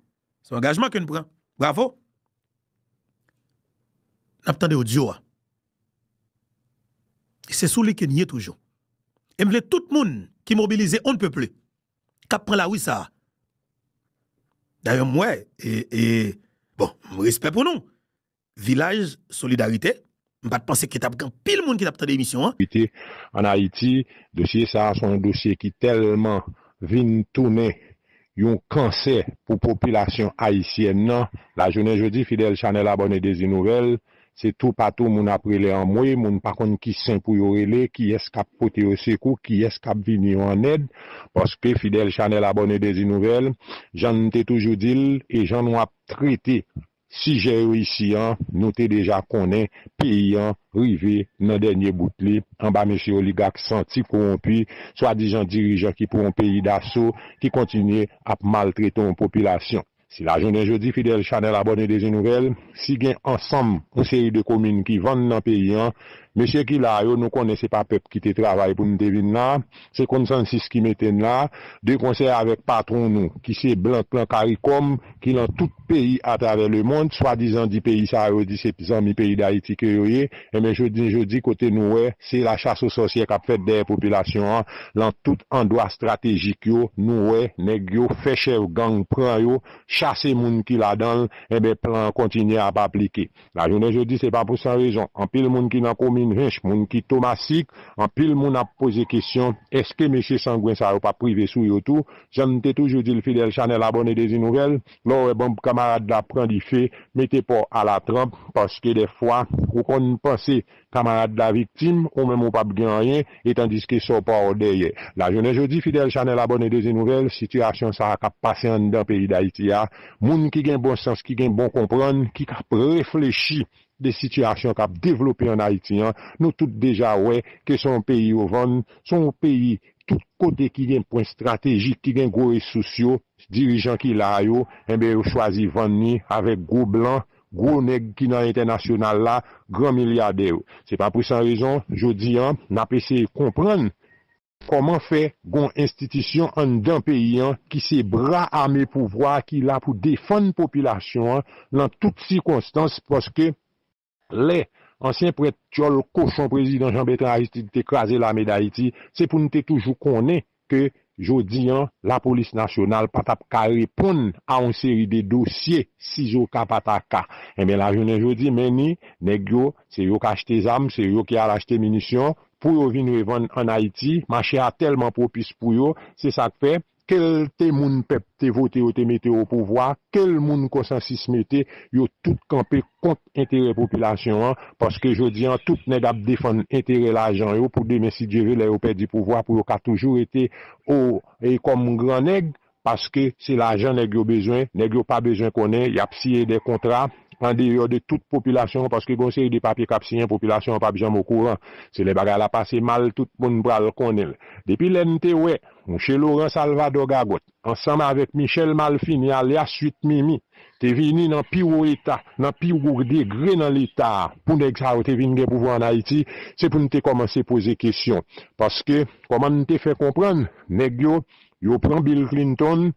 se angajman ke n pran bravo nap tande odyo a e se sou li ke n ye toujou e m vle tout moun ki mobilize on ne peut plus kap pran lari sa dayè m wè e bon respè pou nou Vilaj solidarite, m pat panse ke tap gen anpil moun ki tap tande emisyon an. Rete an Ayiti, dosye sa a se yon dosye ki tèlman vin tounen yon kansè pou popilasyon ayisyèn nan, lajounen jodi fidèl chanèl abòne Dezi Nouvèl se toupatou moun ap rele anmwe, moun pa konn ki sen pou yo rele, kiyès kap pote yo sekou, kiyès kap vini yo an èd, paske fidèl chanèl abòne Dezi Nouvèl, jan n te toujou di l e jan nou ap trete Sijè yo isi an, nou te deja konnen peyi an rive nan dènye bout li anba mesye oligak santi kowonpi, swadizan dirijan ki pran yon peyi daso, ki kontinye ap maltrete yon popilasyon. Si lajounen jodi fidèl chanèl abòne Dezi Nouvèl, si gen ansanm yon seri de komin ki vann nan peyi an, mesye ki la yo nou konnen se pa pèp ki te travay pou nou te vin la, Se konsansis ki mete n la, de konsè avèk patwon nou, ki se blan k lan caricom, ki lan tout peyi atravè lemond, swadizan di peyi sa yo di se zanmi peyi Dayiti ke yo ye, enben joudn joudi kote nou wè se la chas o sòsyè k ap fèt dèyè popilasyon an lan tout andwa estratejik yo, nou wè nèg yo fè chèf gang pran yo, chase moun ki ladan l, enben plan an kontinye ap aplike. Lajounen jodi se pa pou san rezon, anpil moun ki nan komin Hinche, moun ki Tomasik, anpil moun ap poze kesyon, èske mesye sangwen sa yo pap rive sou yo tou? Jan n te toujou di l fidèl chanèl abòne Dezi Nouvèl, lè w wè bonb kamarad la pran dife, mete pa w alatranp, paske dèfwa ou konn panse Kamarad la viktim, ou menm ou pap gen anyen, e tandiske sa w pa w dèyè. Lajounen jodi, fidèl chanèl abòne Dezi Nouvèl, sitiyasyon sa a k ap pase anndan peyi Dayiti a, moun ki gen bon sans, ki gen bon konprann, ki k ap reflechi de sitiyasyon k ap devlope ann Ayiti an, nou tout deja wè ke se yon peyi yo vann, se yon peyi tout kote ki gen pwen estratejik, ki gen gwo resous yo, dirijan ki la a yo, enben yo chwazi vann li avèk gwo blan gwo nèg ki nan entènasyonal la, gran milyadè yo. Se pa pou san rezon, jodi an, n ap eseye konprann kòman fè gon enstitisyon anndan peyi an ki se bra ame pouvwa a ki la pou defann popilasyon an lan tout sikonstans paske lè ansyen prèt tyòl kochon prezidan Janbètran Aristid te kraze lame dayiti se pou n te toujou konnen ke jodi an lapolis nasyonal pa tap ka reponn a yon seri de dosye sizoka pa ta ka. Enben la jounen jodi men ni nèg yo se yo k achte zam, se yo ki al achte minisyon pou yo vin revann an Ayiti, mache a tèlman pwopis pou yo, se sa k fè ke l te moun pèp te vote yo te mete opouvwa, ke l moun konsansis mete, yo tout kanpe. kont enterè popilasyon an paske jodi an tout nèg ap defann enterè lajan yo pou demen si Dye ve lè yo pèdi pouvwa pou yo ka toujou rete o kòm gran nèg paske se lajan nèg yo bezwen nèg yo pa bezwen konnen yap siyen de kontra andeyò de tout popilasyon an paske gen yon seri de papye kap siyen popilasyon an pap janm o kouran se lè bagay la pase mal tout moun pral konnen l depi lè n te wè mouche Laurent Salvador Gagòt. ansanm avèk Michel Malfini alyas 8 Mimi, te vini nan pi wo eta, nan pi wo degre nan leta a, pou nèg sa yo te vin gen pouvwa an Ayiti, se pou n te kòmanse poze kesyon. Paske, kòman n te fè konprann, nèg yo, yo pran Bill Clinton,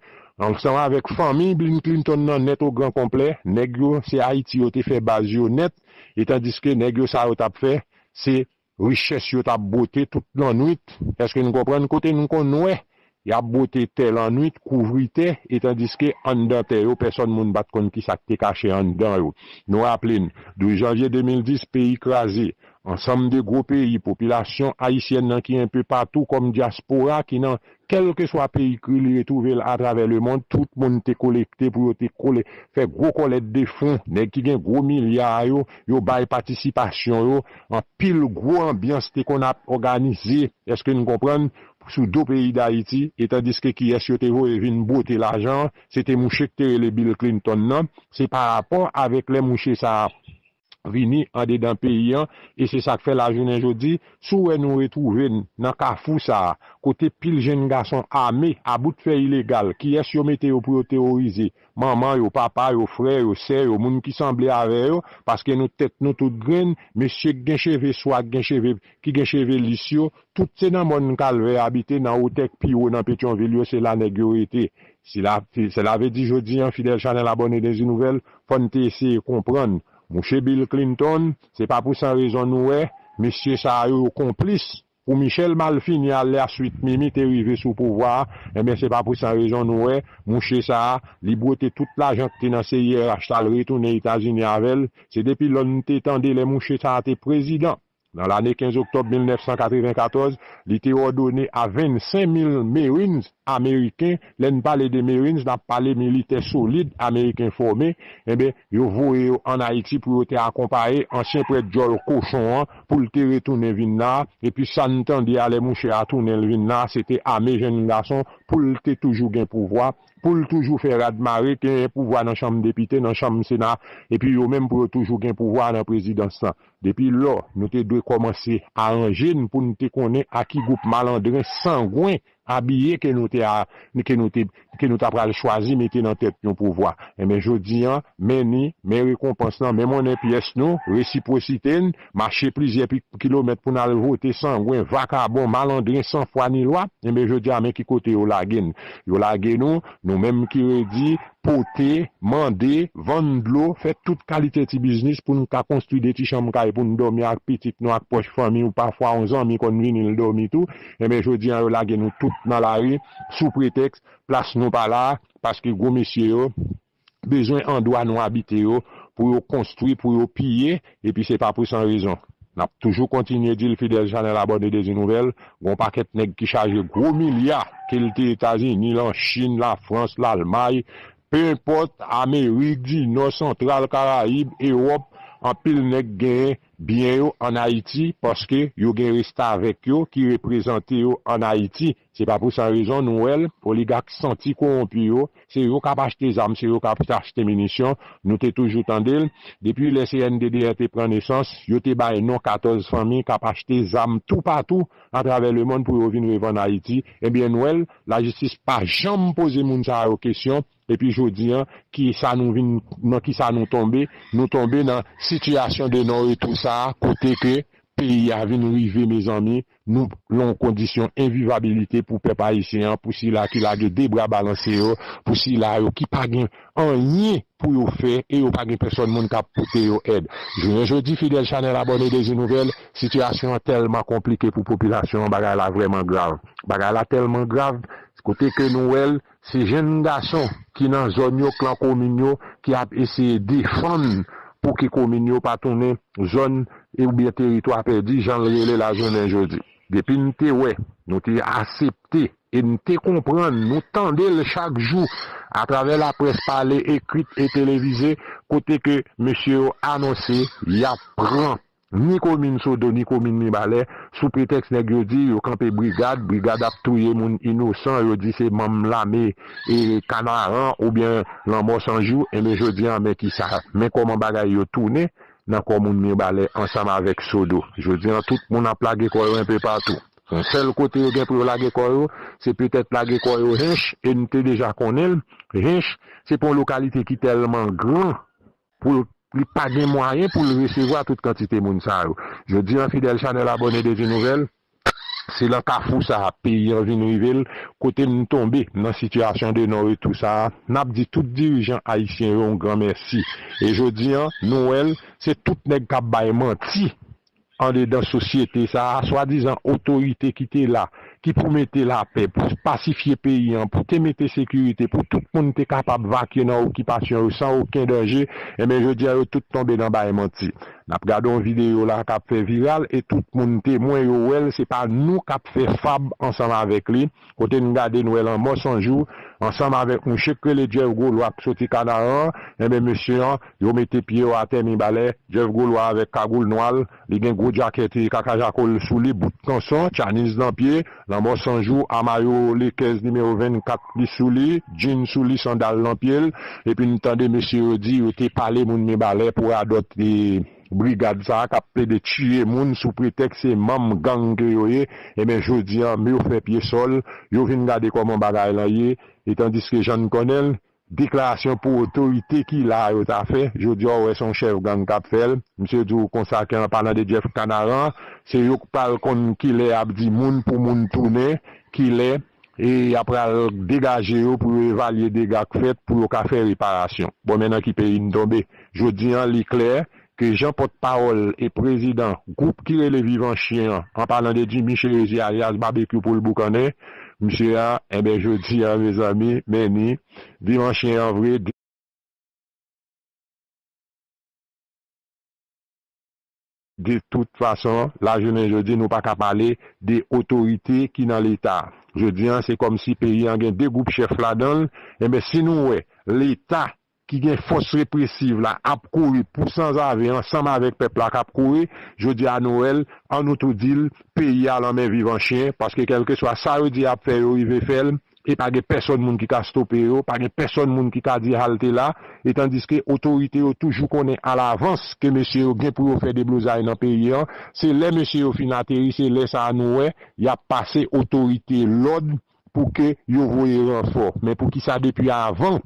ansanm avèk fanmiy Bill Clinton nan nèt o gran konplè, nèg yo, se Ayiti yo te fè baz yo nèt, etandiske nèg yo sa yo t ap fè, se Richès yo t'ap bwote tout lannwit, èske nou konprann? Kote nou konn wè y'ap bwote tè lannwit, kouvri tè, etandiske anndan tè yo pèsòn moun pa t' konn kisa k' te kache anndan yo. Nou raple n', 12 janvye 2010 peyi kraze, ansanm de gwo peyi, popilasyon ayisyèn nan ki enpe patou kòm dyaspora ki nan Kèlkeswa peyi kri li retwouve l atravè lemond, tout moun te kolekte pou yo te kole fè gwo kòlèt de fon. Nèg ki gen gwo milya a yo, yo bay patisipasyon yo. Anpil gwo anbyans te konn ap òganize, èske n konprann, sou do peyi Dayiti. E tandiske kiyès yo te voye vin bwote lajan an? Se te mouche k te rele Bill Clinton nan. Se parapò avèk lè mouche sa a vini andedan peyi an e se sa k fè lajounen jodi si w wè nou retwouve n nan kafou sa a kote pil jenn gason ame a bout fè ilegal kiyès yo mete yo pou yo teworize manman yo papa yo frè yo sè yo moun ki sanble avè yo paske nou tèt nou tout grenn mesye k gen cheve swa k gen cheve ki gen cheve lis yo tout se nan mòn kalvè abite nan otè k pi wo nan petyonvil yo se la nèg yo rete Sela ve di jodi an fidèl chanèl abòne Dezi Nouvèl fò n te eseye konprann mouche Bill Clinton se pa pou san rezon nou wè mesye sa yo yo konplis pou Michel malfini alyaswit Mimi te rive sou pouvwa a enben se pa pou san rezon nou wè mouche sa li bwote tout lajan k te nan CIRH t al retounen Etazini avè l se depi lò n te tande lè mouche sa te prezidan. Nan lane 15 oktòb 1994, li te òdone a 25 mil Marines ameriken, lè n pale de Marines n ap pale militè solid ameriken fòme, enben yo voye yo ann Ayiti pou yo te akonpaye ansyen prèt djòl kochon an pou l te retounen vin la, epi sa n tande a lè mouche a tounen l vin la, se te ame jenn gason pou l te toujou gen pouvwa, pou l toujou fè rad mare, genyen pouvwa nan chanm depite, nan chanm sena, epi yo menm pou yo toujou gen pouvwa nan prezidans lan. Depi lò, nou te dwe kòmanse aranje n pou n te konnen a ki gwoup malandren sangwen abiye ke nou te ke nou te ke nou ta pral chwazi mete nan tèt yon pouvwa. Enben jodi an, men ni, men rekonpans lan, men monnen pyès nou, resipwosite n, mache plizyè pi kilomèt pou n al vote sangwen, vakabon, malandren san fwa ni lwa, enben jodi a men ki kote yo lage n. Yo lage nou, nou menm ki redi, pote, mande, vann dlo, fè tout kalite ti biznis pou n ka konstwi 2 ti chanm kay pou n dòmi ak pitit nou ak pwòch fanmi ou pafwa yon zanmi konn vini l dòmi tou enben jodi an yo lage nou tout nan lari sou pretèks plas nou pa la paske gwo mesye yo bezwen andwa nou abite yo pou yo konstwi pou yo piye Epi se pa pou san rezon. Nap toujou kontinye dil fidèl chanèl abòne Dezi Nouvèl, gon pakèt nèg ki chaje gwo milya kilte Etazini lan Chine la France l'Allemagne peu importe Amerique du Nord Central Caraïbes Europe anpil nèg gen byen yo an Ayiti paske yo gen restavèk yo ki reprezante yo an Ayiti. Se pa pou san rezon nou wè l, oligak santi kowonpi yo, se yo k ap achte zam, se yo k ap achte minisyon, nou te toujou tande l. Depi lè CNDDR te pran nesans, yo te bay non 14 fanmi k ap achte zam toupatou atravè lemonn pou yo vin revann Ayiti. Ebyen n wè l, lajistis pa janm poze moun sa yo kesyon, Epi jodi an ki sa nou vin nan ki sa nou tonbe, nou tonbe nan sitiyasyon de non retou sa a kote ke peyi a vin rive mezanmi nou lan yon kondisyon envivabilite pou pèp ayisyen an pou sila ki lage 2 bra balanse yo pou sila yo ki pa gen anyen pou yo fè e yo pa gen pèsòn moun kap pote yo èd. Jounen jodi fidèl chanèl abòne Dezi Nouvèl, sitiyasyon an tèlman konplike pou popilasyon an bagay la vrèman grav. Bagay la tèlman grav kote ke nou wè l Se jenn gason ki nan zòn yo, klan komin yo ki ap eseye defann pou ke komin yo pa tounen zòn oubyen teritwa pèdi jan l rele la jounen jodi. Depi n te wè, nou te asepte e n te konprann, nou tande l chak jou atravè laprès pale, ekrit e televize kote ke mesye yo anonse y ap pran ni komin sodo ni komin mibalè sou pretèks nèg yo di yo kanpe brigad brigad ap touye moun inosan yo di se manm lame e kanaran oubyen lanmò san jou enben jodi an men kisa men kòman bagay yo tounen nan kò moun mirbalè ansanm avèk sodo jodi an tout moun ap lage kò yo enpe patou son sèl kote yo gen pou yo lage kò yo se petèt lage kò yo hinche e nou te deja konnen l hinche se pou yon lokalite ki tèlman gran pou li pa gen mwayen pou l resevwa tout kantite moun sa yo. Jodi an fidèl chanèl abòne Devy Nouvèl, se lan kafou sa a peyi an vin rive l, kote n tonbe nan sitiyasyon de non retou sa a, n ap di tout dirijan ayisyen yo yon gran mèsi. E jodi an, nou wè l, se tout nèg k ap bay manti Andedan sosyete sa a, swadizan otorite ki te la, ki pou mete lapè, pou pasifye peyi an, pou te mete sekirite, pou tout moun te kapab vakye nan okipasyon yo san oken danje, enben jodi a yo tout tonbe nan bay manti. N ap gade yon videyo la a k ap fè viral e tout moun, temwen, yo wè l, se pa nou k ap fè fab ansanm avèk li, Kote n gade n wè lanmò san jou ansanm avèk mouche k rele Jeff Golois k soti Kanaran an, enben mesye an yo mete pye yo atè Mibalè, Jeff Golois avèk kagoul nwa l, li gen gwo djakèt kaka jako l sou li, bout kanson, tchaniz nan pye, lanmò san jou a mayo Lekèz nimewo 24 li sou li, djin sou li, sandal nan pye l, epi n tande mesye yo di yo te pale moun Mibalè pou radòt. Brigad sa kap plede tiye moun sou pretèks se manm gang ke yo ye, enben jodi an yo fè pye sòl, yo vin gade kòman bagay lan ye, e tandiske jan n konnen l, deklarasyon pou otorite ki la a yo ta fè, jodi a w wè se yon chèf gang kap fè l, misye di w konsa ke an palan de Jeff Kanaran, se yo k pral konn kilè yap di moun pou moun tounen, kilè. E ya pral degaje yo pou yo evalye dega k fèt pou yo ka fè reparasyon. Bon men nan ki peyi n tonbe. Jodi an li klè ke jan pòt pawòl e prezidan gwoup ki rele Vivan Chyen an, an palan de Jimmy Cherizier alyas Babekyou pou l boukannen msye a, enben jodi an mezanmi men ni Vivan Chyen an vre. De tout fason, lajounen jodi nou pa ka pale de otorite ki nan leta. Jodi an se kòm si peyi an gen 2 gwoup chèf ladan l, enben si nou wè leta ki gen fòs represiv la ap kouri pou sanzave ansanm avèk pèp la k ap kouri, jodi a nou wè l, an nou tou di l peyi a lan men vivan chyen paske kèlkeswa sa yo di y ap fè yo rive fè l, e pa gen pèsòn moun ki ka stope yo, pa gen pèsòn moun ki ka di halte la, etandiske otorite yo toujou konnen alavans ke mesye yo gen pou yo fè deblozay nan peyi an, se lè mesye yo fin ateri se lè sa a nou wè y ap pase otorite lòd pou ke yo voye ranfò, men poukisa depi avan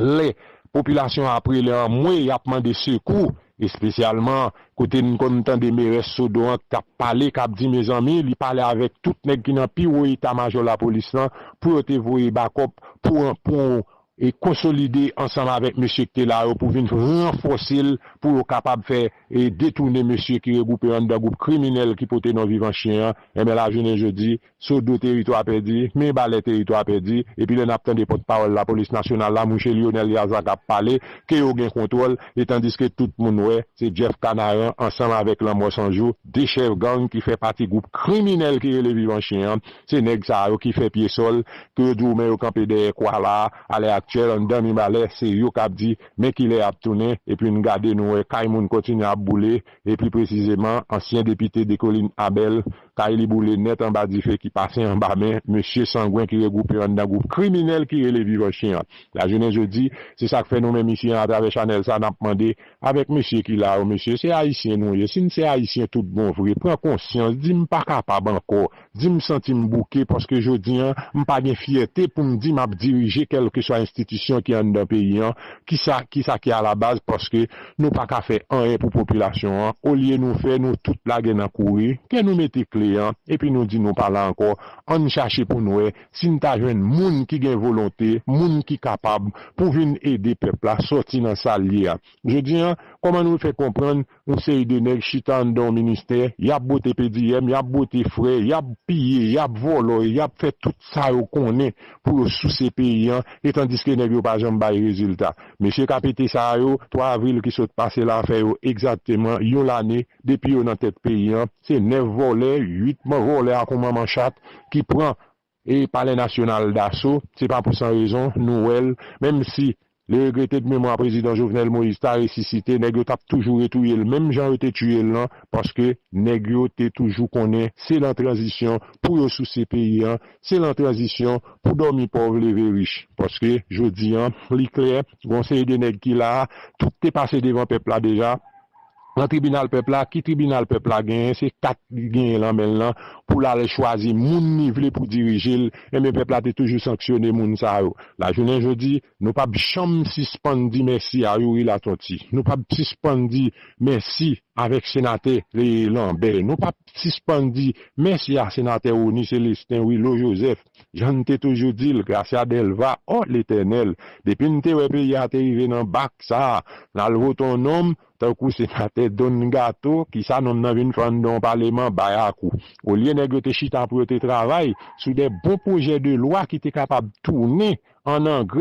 Lè popilasyon an ap rele anmwe, y ap mande sekou, espesyalman kote n konn tande merès Sodo an k ap pale, k ap di mezanmi li pale avèk tout nèg ki nan pi wo eta majò lapolis lan pou yo te voye bakòp pou an pou e konsolide ansanm avèk mesye k te la yo pou vin ranfòse l pou yo kapab fè e detoune mesye ki regwoupe anndan gwoup kriminèl ki pote non Vivanchyen an. Enben la jounen jodi. Sodo teritwa pèdi, Mirebalais teritwa pèdi, epi lè nap tande pòt pawòl lapolis nasyonal la mouche Lionel Liazan kap pale ke yo gen kontwòl e tandiske tout moun wè se Jeff Canaran ansanm avèk Lanmò San Jou 2 chèf gang ki fè pati gwoup kriminèl ki rele Vivan Chyen an se nèg sa yo ki fè pye sòl ke yo di w men yo kanpe dèyè kwa la a lè aktyèl anndan Mibalais se yo kap di men kilè yap tounen epi n gade nou wè kay moun kontinye ap boule e pi presizeman ansyen depite Decoline Abel Kay li boule nèt anba dife ki pase anba men mesye sangwen ki regwoupe anndan gwoup kriminèl ki rele Viv Anchi an. Lajounen jodi, se sa k fè nou menm isi an atravè chanèl sa n ap mande avèk mesye ki la yo, mesye se Ayisyen nou ye? Si n se Ayisyen tout bon vre, pran konsyans, di m pa kapab ankò, di m santi m bouke paske jodi an m pa gen fyète pou m di m ap dirije kèlkeswa enstitisyon ki anndan peyi an, kisa ki alabaz paske. Nou pa ka fè anyen pou popilasyon an, olye nou fè nou tout lage nan kouri, ke nou mete kle an, epi nou di nou pa la ankò, ann chache pou n wè si n ta jwenn moun ki gen volonte, moun ki kapab pou vin ede pèp la sòti nan sa l ye a. Jodi a, kòman nou fè konprann yon seri de nèg chita anndan yon ministè, y ap bwote pediyèm, y ap bwote frè, y ap piye, y ap vòlò, y ap fè tout sa yo konnen pou yo souse peyi an e tandiske nèg yo pa janm bay rezilta. Mesye kapete sa a yo, 3 avril ki sot pase la fè yo egzakteman yon lane depi yo nan tèt peyi an, se 9 vòlè, 8 vòlè a kon manman chat ki pran palè nasyonal daso, se pa pou san rezon nou wè l, menm si Li regrete k memwa prezidan Jovenel Moïse ta resisite nèg yo tap toujou retouye l menm jan yo te tiye l lan paske nèg yo te toujou konnen se lan tranzisyon pou yo souse peyi an se lan tranzisyon pou dòmi pòv leve rich paske jodi an li klè gon seri de nèg ki la tout te pase devan pèp la deja nan tribinal pèp la, ki tribinal pèp la genyen, se kat li genyen lan men l lan pou l al chwazi moun li vle pou dirije l, enben pèp la te toujou sanksyone moun sa yo. Lajounen jodi, nou p ap janm sispann di mèsi a Youri Latonti, nou p ap sispann di mèsi avèk senatè Lanbè, nou p ap sispann di mèsi a senatè Rony Célestin, Willo Joseph, Jan n te toujou di l, Gracia Delva, oh Letènèl, depi n te wè peyi a te rive nan bak sa a, n al vote on nonm tankou Senatè Don Gato, kisa nonm nan vin fè anndan on paleman bayakou? Olye nèg yo te chita pou yo te travay sou de bon pwojè de lwa ki te kapab tounen an angrè,